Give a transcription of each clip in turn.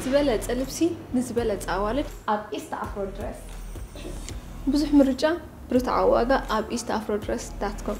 ዝበለጸ ልብሲ ንዝበለጸ ኣዋልድ ኣብ ኢስት ኣፍሮ ድረስ። ብዙሕ ምርጫ ብርትዓዊ ዋጋ ኣብ eastafrodress.com።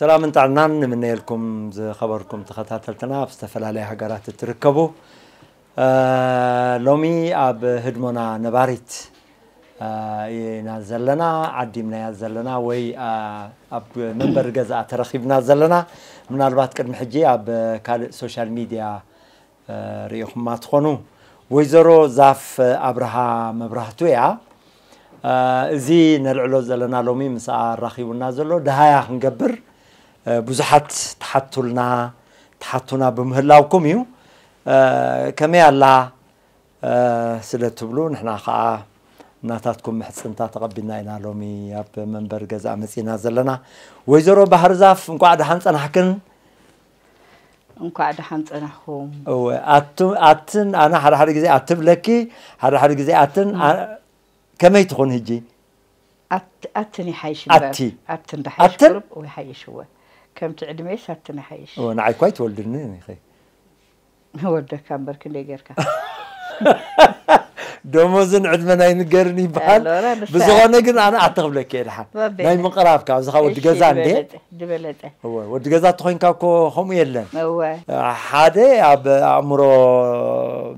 ሰላምን ጥዕናን ንምነየልኩም ዝኸበርኩም ተኸታተልትና ኣብ ዝተፈላለየ ሃገራት እትርከቡ ሎሚ ኣብ ህድሞና ነባሪት ኢና ዘለና ዓዲምናያ ዘለና ወይ ኣብ መንበሪ ገዛ ተረኺብና ዘለና ምናልባት ቅድሚ ሕጂ ኣብ ካልእ ሶሻል ሚድያ ርኢኹማ ትኾኑ ወይዘሮ ዛፍ ኣብርሃ መብራህቱ እያ። እዚ ነልዕሎ ዘለና ሎሚ ምስኣ ኣራኺቡና ዘሎ ድሃያ ክንገብር ብዙሓት ትሓቱልና ትሓቱና ብምህላውኩም እዩ። ከመይ ኣላ ስለ ትብሉ ንሕና ከዓ ናታትኩም ምሕፅንታ ተቐቢልና ኢና ሎሚ ኣብ መንበሪ ገዛ መፂና ዘለና። ወይዘሮ ባህርዛፍ እንኳዕ ደሓን ፀናሕክን። እንኳዕ ደሓን ጸናኹም። እወ ኣቱ ኣትን ኣነ ሓደ ሓደ ግዜ ኣትብለኪ ሓደ ሓደ ግዜ ኣትን ከመይ ትኹን ህጂ ኣትን ይሓይሽ ኣቲ ኣትን ደሓይሽ ቁርብ ይሓይሽ እወ ከምቲ ዕድሜስ ኣትን ይሓይሽ ንዓይ እኳ ኣይትወልድንን ኢኺ ወደካ እምበር ክንደይ ጌርካ ደሞዝን ዕድመን ኣይንገርን ይበሃል ኣሎራ ንሳ ብዝኾነ ግን ኣነ ኣተ ክብለኪ እየ ድሓን ወቤለ። ናይ ምቕራብ ካብ ዝኻ ወዲ እሺ፣ ገዛ እንዴ ዝበለጠ ዝበለጠ እወ ወዲ ገዛ ተኾይንካ እኮ ከምኡ የለን እወ ሓደ ኣብ ኣእምሮ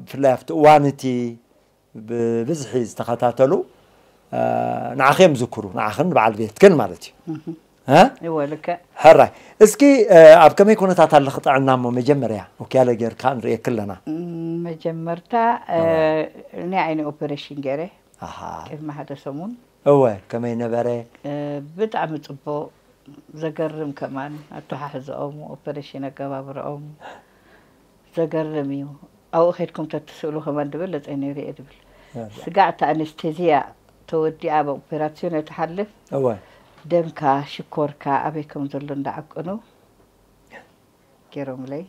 ብፍላይ ኣብቲ እዋን እቲ ብብዝሒ ዝተኸታተሉ ንዓኺ እዮም ዝዝክሩ ንዓኽን ንበዓል ቤትክን ማለት እዩ እወ ልክዕ ሕራይ እስኪ ኣብ ከመይ ኩነታት ኣለኺ ጥዕና እሞ መጀመርያ ወኪያለ ጌርካ ንርእየኪ ኣለና መጀመርታ ናይ ዓይኒ ኦፐሬሽን ገይረ ቅድሚ ሓደ ሰሙን እወ ከመይ ነበረ ብጣዕሚ ፅቡቅ ዘገርም ከማን ኣተሓሕዘኦም ኦፐሬሽን ኣገባብረኦም ዘገርም እዩ ኣብኡ ከድኩም ተትስእሉ ከማን ድበለጸ ነይሩ እየ ድብል ስጋዕ እታ ኣነስቴዝያ ተወዲኣ ብ ኦፔራሲዮን እያ ትሓልፍ እወ ደምካ ሽኮርካ ኣበይ ከም ዘሎ እንዳዓቀኑ ጌሮምለይ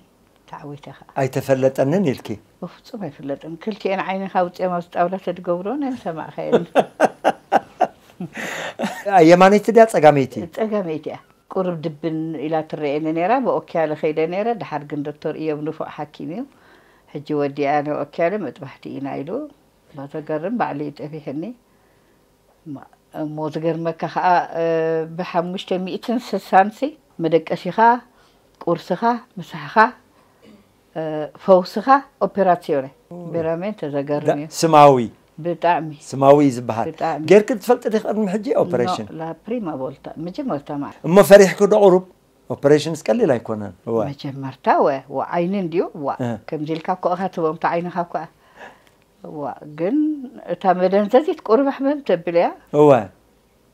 ተዓዊተ ከኣ ኣይተፈለጠንን ኢልኪ በፍጹም ኣይፍለጥን ክልቲኤን ዓይንካ ኣውጺኦም ኣብዚ ጣውላ ተድገብርወን ኣይምሰማዕካየንን ኣየማነይቲ ድያ ጸጋመይቲ ጸጋመይቲ እያ ቁሩብ ድብን ኢላ ትረኤኒ ኔራ ብኦኪያለ ከይደ ኔረ ደሓር ግን ዶክተር ኢዮብ ንፉዕ ሓኪም እዩ ሕጂ ወዲኣ ንኦኪያለ መጥባሕቲ ኢና ኢሉ ዘገርም ባዕሉ እዩ ጠቢሕኒ እሞ ዝገርመካ ከኣ ብ ሓሙሽተ ሚእትን ስሳን ሲ መደቀሲኻ ቁርስኻ ምሳሕኻ ፈውስኻ ኦፔራሲዮነ ቤራሜንተ ዘገርም እዩ ስማዊ ብጣዕሚ ስማዊ እዩ ዝበሃል ብጣዕሚ። ጌርክ ትፈልጢ ዲኺ ቅድሚ ሕጂ ኖ ኦፐሬሽን ላ ፕሪማ ቮልታ መጀመርታ መዓ እሞ ፈሪሕኪ ዶ ቁሩብ ኦፐሬሽንስ ቀሊል ኣይኮነን እወ መጀመርታ ወ ወ ዓይኒ እንድዩ ዋ እ። ከምዚ ኢልካ እኮ ኢኻ ትህቦም እታ ዓይንኻ እኮ እያ ዋ ግን እታ መደንዘዚት ቁሩብ ሕምም ተብል እያ እወ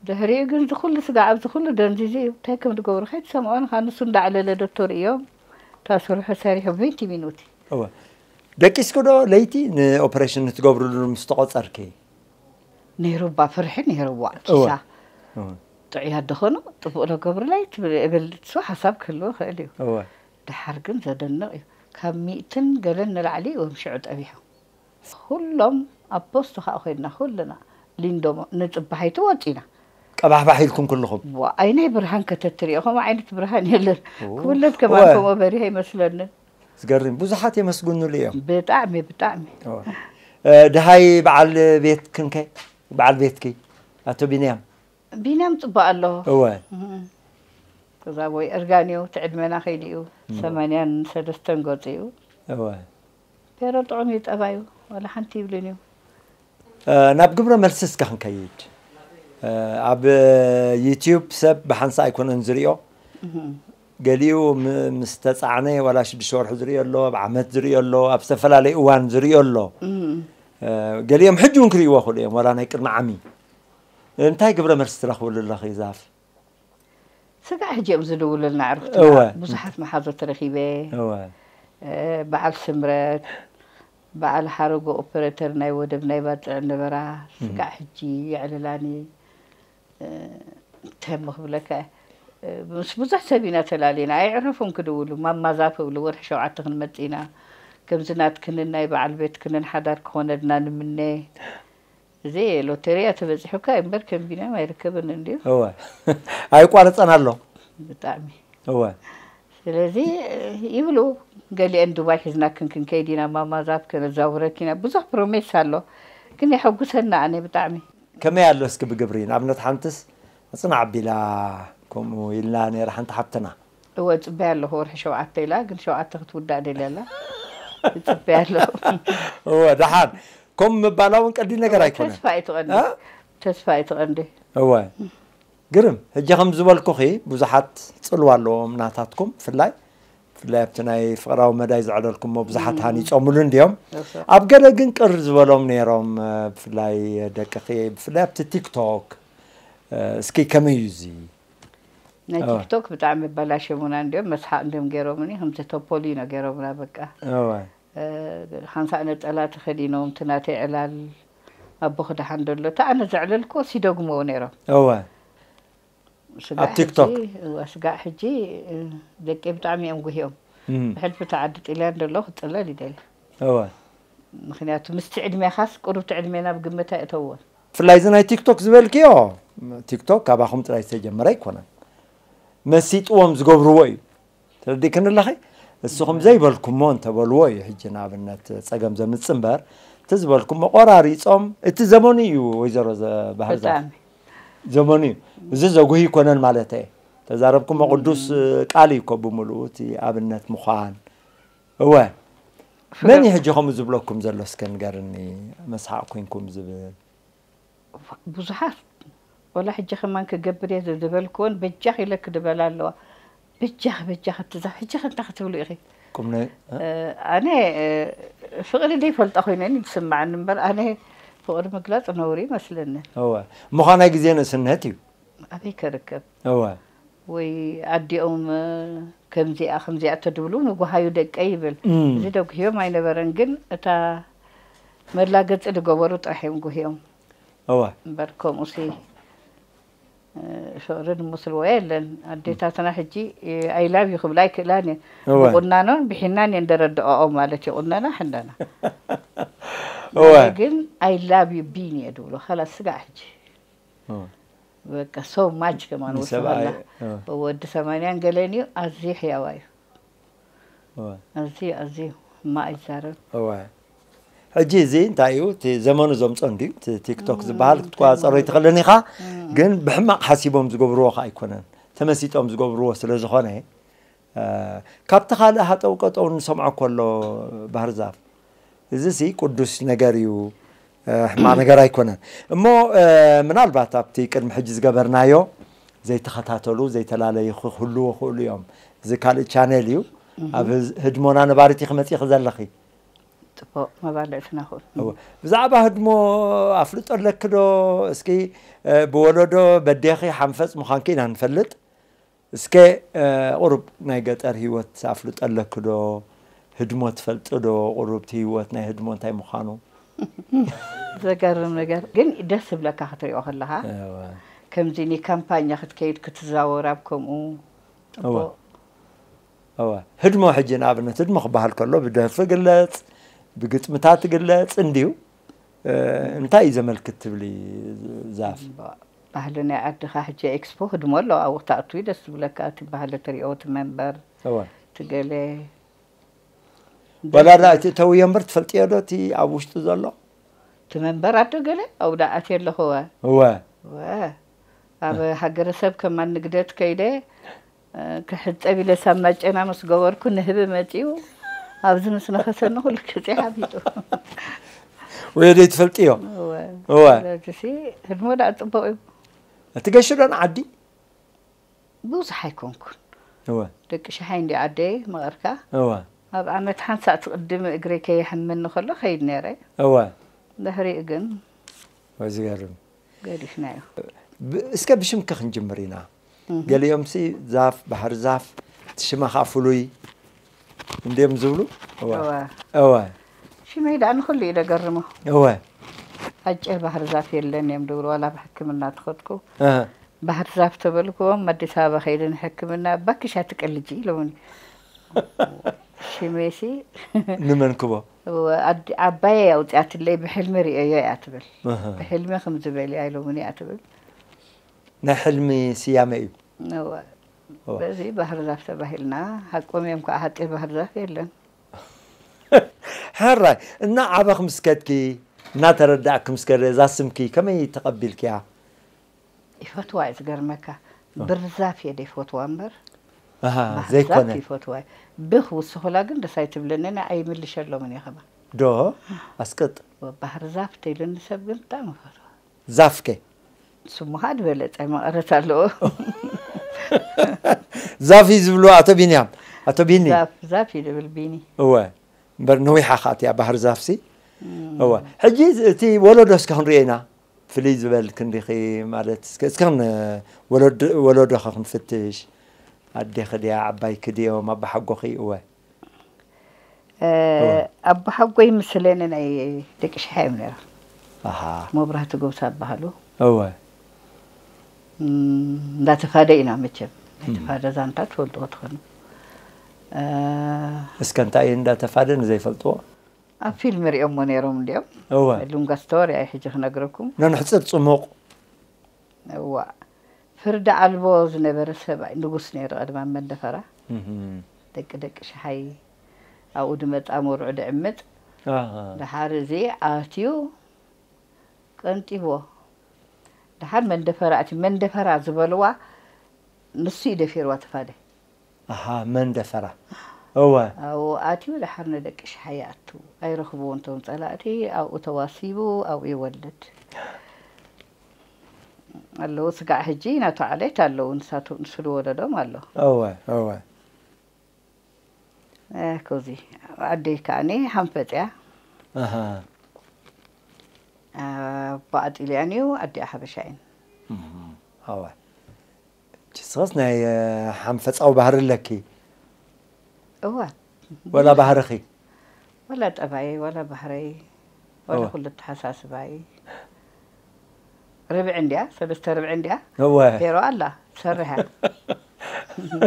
ድሕሪኡ ግን እዚ ኩሉ ስጋዕ እዚ ኩሉ ደንዚዙ እዩ ታይ ከምድገብሩ ከይትሰምዖ ንካ ንሱ እንዳዕለለ ዶቶር እዮም እታ ስርሑ ሰሪሑ ቪንቲ ሚኑቲ። እወ ደቂስኪ ዶ ለይቲ ንኦፕሬሽን ንትገብርሉ ምስ ተቆጸርኪ። ነይሩ እባ ፍርሒ ነይሩ ዋእ ኪሳ ጥዑያት ዶ ኮኑ ጽቡቅ ዶ ገብሩለይ ትብል እብል ንሱ ሓሳብ ክህልዎ ይክእል እዩ እወ ዳሓር ግን ዘደንቅ እዩ ካብ ሚእትን ገለን ንላዕሊ እዮም ሽዑ ጠቢሖም። ኹሎም ኣብ ፖስቱ ኸኣ ኮይንና ኩልና ሊንዶ ንጽባሒቱ ወጺና። ቀባሕባሕ ኢልኩም ኩልኹም። ዋእ ኣይናይ ብርሃን ከተትሪኦ ከምኡ ዓይነት ብርሃን የለን ኩለን ከማን ከምኦ በሪሀ ኣይመስለንን። ዝገርም ብዙሓት የመስግኑሉ እዮም። ብጣዕሚ ብጣዕሚ። ደሃይ በዓል ቤትክን ከ በዓል ቤትኪ ኣቶ ቢንያም? ቢንያም ጽቡቅ ኣሎ። እወ። ተዛቦይ እርጋን እዩ እቲ ዕድመና ከይዱ እዩ ሰማንያን ሰለስተን ገጹ እዩ። እወ። ፔሮ ጥዑም እዩ ጠባዩ ዋላ ሓንቲ ይብልን እዩ። ናብ ግብረ መልሲ እስከ ክንከይድ ኣብ ዩቲዩብ ሰብ ብሓንሳ ኣይኮነን ዝሪኦ ገሊኡ ምስ ተፃዕነ ዋላ ሽዱሽተ ወርሒ ዝሪኦ ኣሎ ኣብ ዓመት ዝሪኦ ኣሎ ኣብ ዝተፈላለዩ እዋን ዝሪኦ ኣሎ ገሊኦም ሕጂ እውን ክርእይዎ ክእሉ እዮም ዋላ ናይ ቅድሚ ዓሚ እንታይ ግብረ መልሲ ትረኽብሉ ኣለኺ ዛፍ ስጋዕ ሕጂ እዮም ዝድውሉልና ኣዕሩኽትና እወ። ብዙሓት መሓዙት ረኺበ እወ እ፣ በዓል ስምረት በዓል ሓረጎ ኦፐረተር ናይ ወደብ ናይ ባጽዕ ነበራ ስጋዕ ሕጂ የዕልላኒ እ፣ እንታይ እሞ ክብለካ እየ እ፣ ምስ ብዙሕ ሰብ ኢና ተላሊና ኣየዕረፉን ክድውሉ ማማ ዛፍ እብሉ ወርሒ ሸውዓተ ክንመጽእ ኢና ከምዚ ናትክንን ናይ በዓል ቤትክንን ሓዳር ክኾነልና ንምነ እዚ ሎተሪ እያ ተበጺሑካ እምበር ከም ቢንያም ኣይርከብን እንድዩ እወ ኣይቋርጸን ኣሎ ብጣዕሚ እወ ስለዚ ይብሉ ገሊአን ዱባይ ሒዝናክን ክንከይድ ኢና ማማ ዛብ ከነዛውረኪ ኢና ብዙሕ ፕሮሜስ ኣሎ ግን የሐጉሰና ኣነ ብጣዕሚ ከመይ ኣሎ እስኪ ብግብሪ ንኣብነት ሓንትስ ምጽናዕ ኣቢላ ከምኡ ኢልና ነይራ ሓንቲ ሓብትና። እወ እጽበያ ኣለኹ ወርሒ ሸውዓተ ኢላ ግን ሸውዓተ ክትውዳእ ደልያ ኣላ እጽበያ ኣለኹ እወ ደሓን ከምኡ ምባላ እውን ቀሊል ነገር እወ ኣይኮነን ተስፋ እዩ ትቐንዲ እ? ተስፋ እዩ ትቐንዲ እወ ግርም ሕጂ ከም ዝበልኩኺ ብዙሓት ፅልዋ ኣለዎም ናታትኩም ብፍላይ ብፍላይ ኣብቲ ናይ ፍቕራዊ መዳይ ዘዕለልኩሞ ብዙሓት ሃኒፆምሉ እንድዮም እወ። ኣብ ገለ ግን ቅር ዝበሎም ነይሮም እ፣ ብፍላይ ደቅኺ ብፍላይ ኣብቲ ቲክቶክ እ፣ እስኪ ከመይ እዩ እዚ ናይ ቲክቶክ ብጣዕሚ ኣበላሸሙና እንዲዮም መስሓቅ እንዲዮም ገይሮምኒ ከምቲ ቶፖሊኖ ገይሮምና በቃ እዋይ ሓንሳእ ነጸላ ተኸዲኖም እቲ ናተይ ዕላል ኣቦኺ ደሓን ዶ ኣሎ እቲ ኣነ ዘዕለልክዎስ ይደግምዎ ነይሮም እዋይ ስጋዕ ኣብ ቲክቶክ? ሕጂ እወ ስጋዕ ሕጂ እ፣ ደቂ ብጣዕሚ እዮም ጉህዮም እም፣ ብሕልፊ እታ ዓዲ ጥልያን ደሎ ክጽለል ይደሊ እዋይ ምክንያቱ ምስቲ ዕድሜኻስ ቁሩብቲ ዕድሜና ኣብ ግምት ኣይእተውዎን ብፍላይ እዚ ናይ ቲክቶክ ዝበልክዮ ቲክቶክ ካባኹም ጥራይ ዝተጀመረ ኣይኮነን መሲጥዎም ዝገብርዎ እዩ ተረዲእክን ኣለኺ እስኹም ዘይበልኩሞ እንተበልዎ እዩ ሕጂ ንኣብነት ፀገም ዘምፅ እምበር እቲ ዝበልኩሞ ቆራሪፆም እቲ ዘመኑ እዩ ወይዘሮ ባህር ዛፍ ዘመኑ እዩ እዚ ዘጉህ ይኮነን ማለት እየ ተዛረብኩሞ ቅዱስ ቃል እዩ ኮ ብምልኡ እቲ ኣብነት ምዃን እወ መን እዩ ሕጂ ከምኡ ዝብለኩም ዘሎ እስከ ንገርኒ መስሓቅ ኮንኩም ዝብል ብዙሓት ወላ ሕጂ ከማን ክገብር እየ ዝበልክዎን በጃኽ ኢለ ክድበላ ኣለዋ በጃኽ በጃኽ እትዛ ሕጂ ከ እንታይ ክትብሉ ኢኺ ኣነ ፍቕሪ ዘይፈልጣ ኮይነ ዝስምዓኒ እምበር ኣነ ፍቕሪ ምግላፅ ነውሪ ይመስለኒ እወ ምዃናይ ግዜ ንእስነት እዩ ኣበይ ከርከብ እወ። ወይ ኣዲኦም ከምዚኣ ከምዚኣ ተድብሉ ንጉሃዩ ደቀይ ይብል እዚ ደጉህዮም ኣይነበረን ግን እታ መላገጺ ድገበሩ ጥራሕ እዮም ጉህዮም እወ እምበር ከምኡሲ ፍቅሪ ድመስልዎ የለን ኣዴታትና ሕጂ ኣይላቭ ዩ ክብላ ኣይክእላን እየን እወ ብቁናኖን ብሒናን እየን ደረድኦኦም ማለት ይቁነና ሕነና እወ ግን ኣይላቭ ዩ ቢኒ እየ ድብሎ ካላስ ስጋዕ ሕጂ በቃ ሶ ማች ከማን ወሰላ ንሰብኣይ፣ እ። ወዲ ሰማንያን ገለን እዩ ኣዝዩ ሕያዋ እዩ እወ ኣዝዩ ኣዝዩ እማ ኣይዛረብ እወ ሕጂ እዚ እንታይ እዩ እቲ ዘመኑ ዘምፆ እንድዩ እቲ ቲክቶክ ዝበሃል ክትቆፃፀሮ ኣይትኽእልን ኢኻ ግን ብሕማቕ ሓሲቦም ዝገብርዎ ከዓ ኣይኮነን ተመሲጦም ዝገብርዎ ስለ ዝኾነ ካብቲ ካልእ ሃጠው ቀጠው እንሰምዖ ኮሎ ባህርዛፍ እዚሲ ቁዱስ ነገር እዩ ሕማቅ ነገር ኣይኮነን እሞ ምናልባት ኣብቲ ቅድሚ ሕጂ ዝገበርናዮ ዘይተኸታተሉ ዘይተላለዩ ክህልዉ ይኽእሉ እዮም እዚ ካልእ ቻነል እዩ ኣብ ህድሞና ነባሪት ኢኺ መጺኺ ዘለኺ ጽቡቅ መባልዕትና ኹን ብዛዕባ ህድሞ ኣፍልጦ ኣለኪ ዶ እስኪ ብወለዶ በዴኺ ሓንፈጽ ምዃንኪ ኢና ንፈልጥ እስከ ቁሩብ ናይ ገጠር ሂወት ኣፍልጦ ኣለኪ ዶ ህድሞ ትፈልጢ ዶ ቁሩብ እቲ ሂወት ናይ ህድሞ እንታይ ምዃኑ። ዘገርም ነገር ግን ደስ ዝብለካ ክትሪኦ ከለኻ ከምዚ ን ካምፓኛ ክትከይድ ክትዛወር ኣብ ከምኡ እወ ጽቡቅ። እወ ህድሞ ሕጂ ንኣብነት ህድሞ ክበሃል ከሎ ብደርፊ ግለጽ ብግጥምታት ግለጽ እንድዩ እንታይ እዩ ዘመልክት ትብሊ ዛፍ? ባህሊ ናይ ዓድኻ ሕጂ ኤክስፖ ህድሞ ኣሎ ኣብኡ ክትኣቱ እዩ ደስ ዝብለካ እቲ ባህሊ ትሪኦ እቲ መንበር እቲ ገለ ዋላ ዳ እቲ እተውዮ እምበር ትፈልጥዮ ዶ እቲ ኣብ ውሽጢ ዘሎ እቲ መንበር ኣዶ ገለ ኣብኡ ዳ ኣትየ ኣለኹ እወ እወ እወ ኣብ ሃገረሰብ ከማን ንግደት ከይደ ክሕጸብ ኢለ ሳብ ማጨና ምስ ገበርኩ ንህቢ መጺኡ ኣብዚ ምስ ነኸሰኒ ኩሉ ግዜ ሓፊጡ ወዮ ደይ ትፈልጥዮ እወ እወ ስለዚሲ ህድሞ ደኣ ጽቡቕ እዩ ትገሽ ዶ ንዓዲ ብዙሕ ኣይኮንኩን እወ ደቂ ሽሓይ እንዲ ዓደይ መቐርካ እወ ኣብ ዓመት ሓንሳእ ትቕድሚ እግረይ ከየሕመኒ ከሎ ከይድ ነይረ እወ ድሕሪኡ ግን ወይ ዝገርም ገዲፍናዮ። እስከ ብሽምኪ ክንጅምር ኢና ገሊኦምሲ ዛፍ ባሕሪ ዛፍ እቲ ሽማ ከኣ ፍሉይ እንድዮም ዝብሉ እወ እወ እወ ሽመይ ደኣ ንኹሉ እዩ ደገርሞ እወ ኣጭር ባህር ዛፍ የለን እዮም ድብሉ ዋላ ኣብ ሕክምና ተኸድኩ እህ፣ ባህር ዛፍ ተበልክዎም ኣዲስ ኣበባ ከይደ ንሕክምና ባክሽ ኣትቀልጂ ኢሎምኒ ሽሜሲ ንመንክቦ እወ ኣዲ ዓባየይ እያ ኣውጺኣትለይ ብሕልሚ ሪኤዮ እያ ትብል ብሕልሚ ክምዚ በልያ ኢሎሙኒ እያ ትብል። ናይ ሕልሚ ስያመ እዩ። እወ በዚ ባህርዛፍ ተባሂልና ሃቆም እዮም ካዓ ሃጤ ባህርዛፍ የለን። ሕራይ እና ዓበክ ምስ ከድኪ እና ተረዳእኪ ምስ ከደ እዛ ስምኪ ከመይ ተቀቢልክያ ይፈትዋ እዩ ዝገርመካ ብርዛፍ እየ ደይፈትዋ እምበር ኣሃ ባህርዛፍ ዘይኮነ ይፈትዋ እዩ ብ ክውስኹላ ግን ደስ ኣይትብለንን እያ ኣይምልሸሎምን እየ ከማን ዶ ኣስቅጥ ባህርዛፍ ተይሉኒ ሰብ ግን ብጣዕሚ ይፈትዋ ዛፍ ከ ስሙ ኸኣ ዝበለጸ መቐረት ኣለዎ ዛፍ እዩ ዝብልዎ ኣቶ ቢንያም ኣቶ ቢኒ ዛፍ ዛፍ እዩ ዝብል ቢኒ እወ እምበር ነዊሓ ከኣ እቲኣ ባህርዛፍሲ እወ ሕጂ እዚ- እቲ ወለዶ እስከ ክንሪኦ ኢና ፍልይ ዝበል ክንዲኺ ማለት እስከ እስከ ን ወለዶ ወለዶኸ ክንፍትሽ ኣዴኺ ድያ ዓባይኪ ድዮም ኣቦሓጎኺ እወ እወ ኣቦሓጎይ ምስሌነ ናይ ደቂ ሽሓ እዮም ነይሮም ኣሃ መብራህቱ ጎብሳ ይበሃሉ እወ እንዳ ተፋደ ኢና መቸም ናይ ተፋደ ዛንታ ትፈልጥዎ ትኾኑ እስከ እንታይ እዩ እንዳ ተፋደ ንዘይፈልጥዎ ኣብ ፊልም ሪኦሞ ነይሮም እንድዮም እወ ሉንጋ ስቶሪ ኣይ ሕጂ ክነግረኩም ነንሕጽር ጽሙቕ እዋእ ፍርዲ ኣልቦ ዝነበረ ሰብኣይ ንጉስ ነይሩ ቀደም ኣብ መንደፈራ ደቂ ደቂ ሸሓይ ኣብኡ ድመጻ መርዑ ድዕምጽ ደሓር እዚ ኣትዩ ቀንጢብዎ ደሓር መንደፈራ እቲ መንደፈራ ዝበልዋ ንሱ እዩ ደፊርዋ ተፋደ ኣሃ መን ደፈራ እወ። ኣብኡ ኣትዩ ደሓር ንደቂ ሽሓ ይኣቱ ኣይረኽብዎን ቶም ጸላእቲ ኣብኡ ተዋሲቡ ኣብኡ ይወልድ ኣለዉ ስጋዕ ህጂ ናቱ ዓሌት ኣለዉ ንሳቱ ንሱ ዝወለዶም ኣሎ። እወ እወ። ኣኮዚ ኣደይ ከኣኒ ሃንፈጽ እያ። ኣሃ። ኣቦኣ ኣጥሊኣን እዩ ኣዲኣ ሓበሻ እየን። እወ። ጅስኸስ ናይ ሓንፈጻዊ ባህሪ ኣለኪ እወ ወላ ባህርኺ ወላ ጠባየይ ወላ ባህረይ ወላ እወ። ኩሉ ኣተሓሳስባይ ርብዒ እንድያ ሰለስተ ርብዒ እንድያ እወ ሄሮ ኣላ ትሰርሕ እያ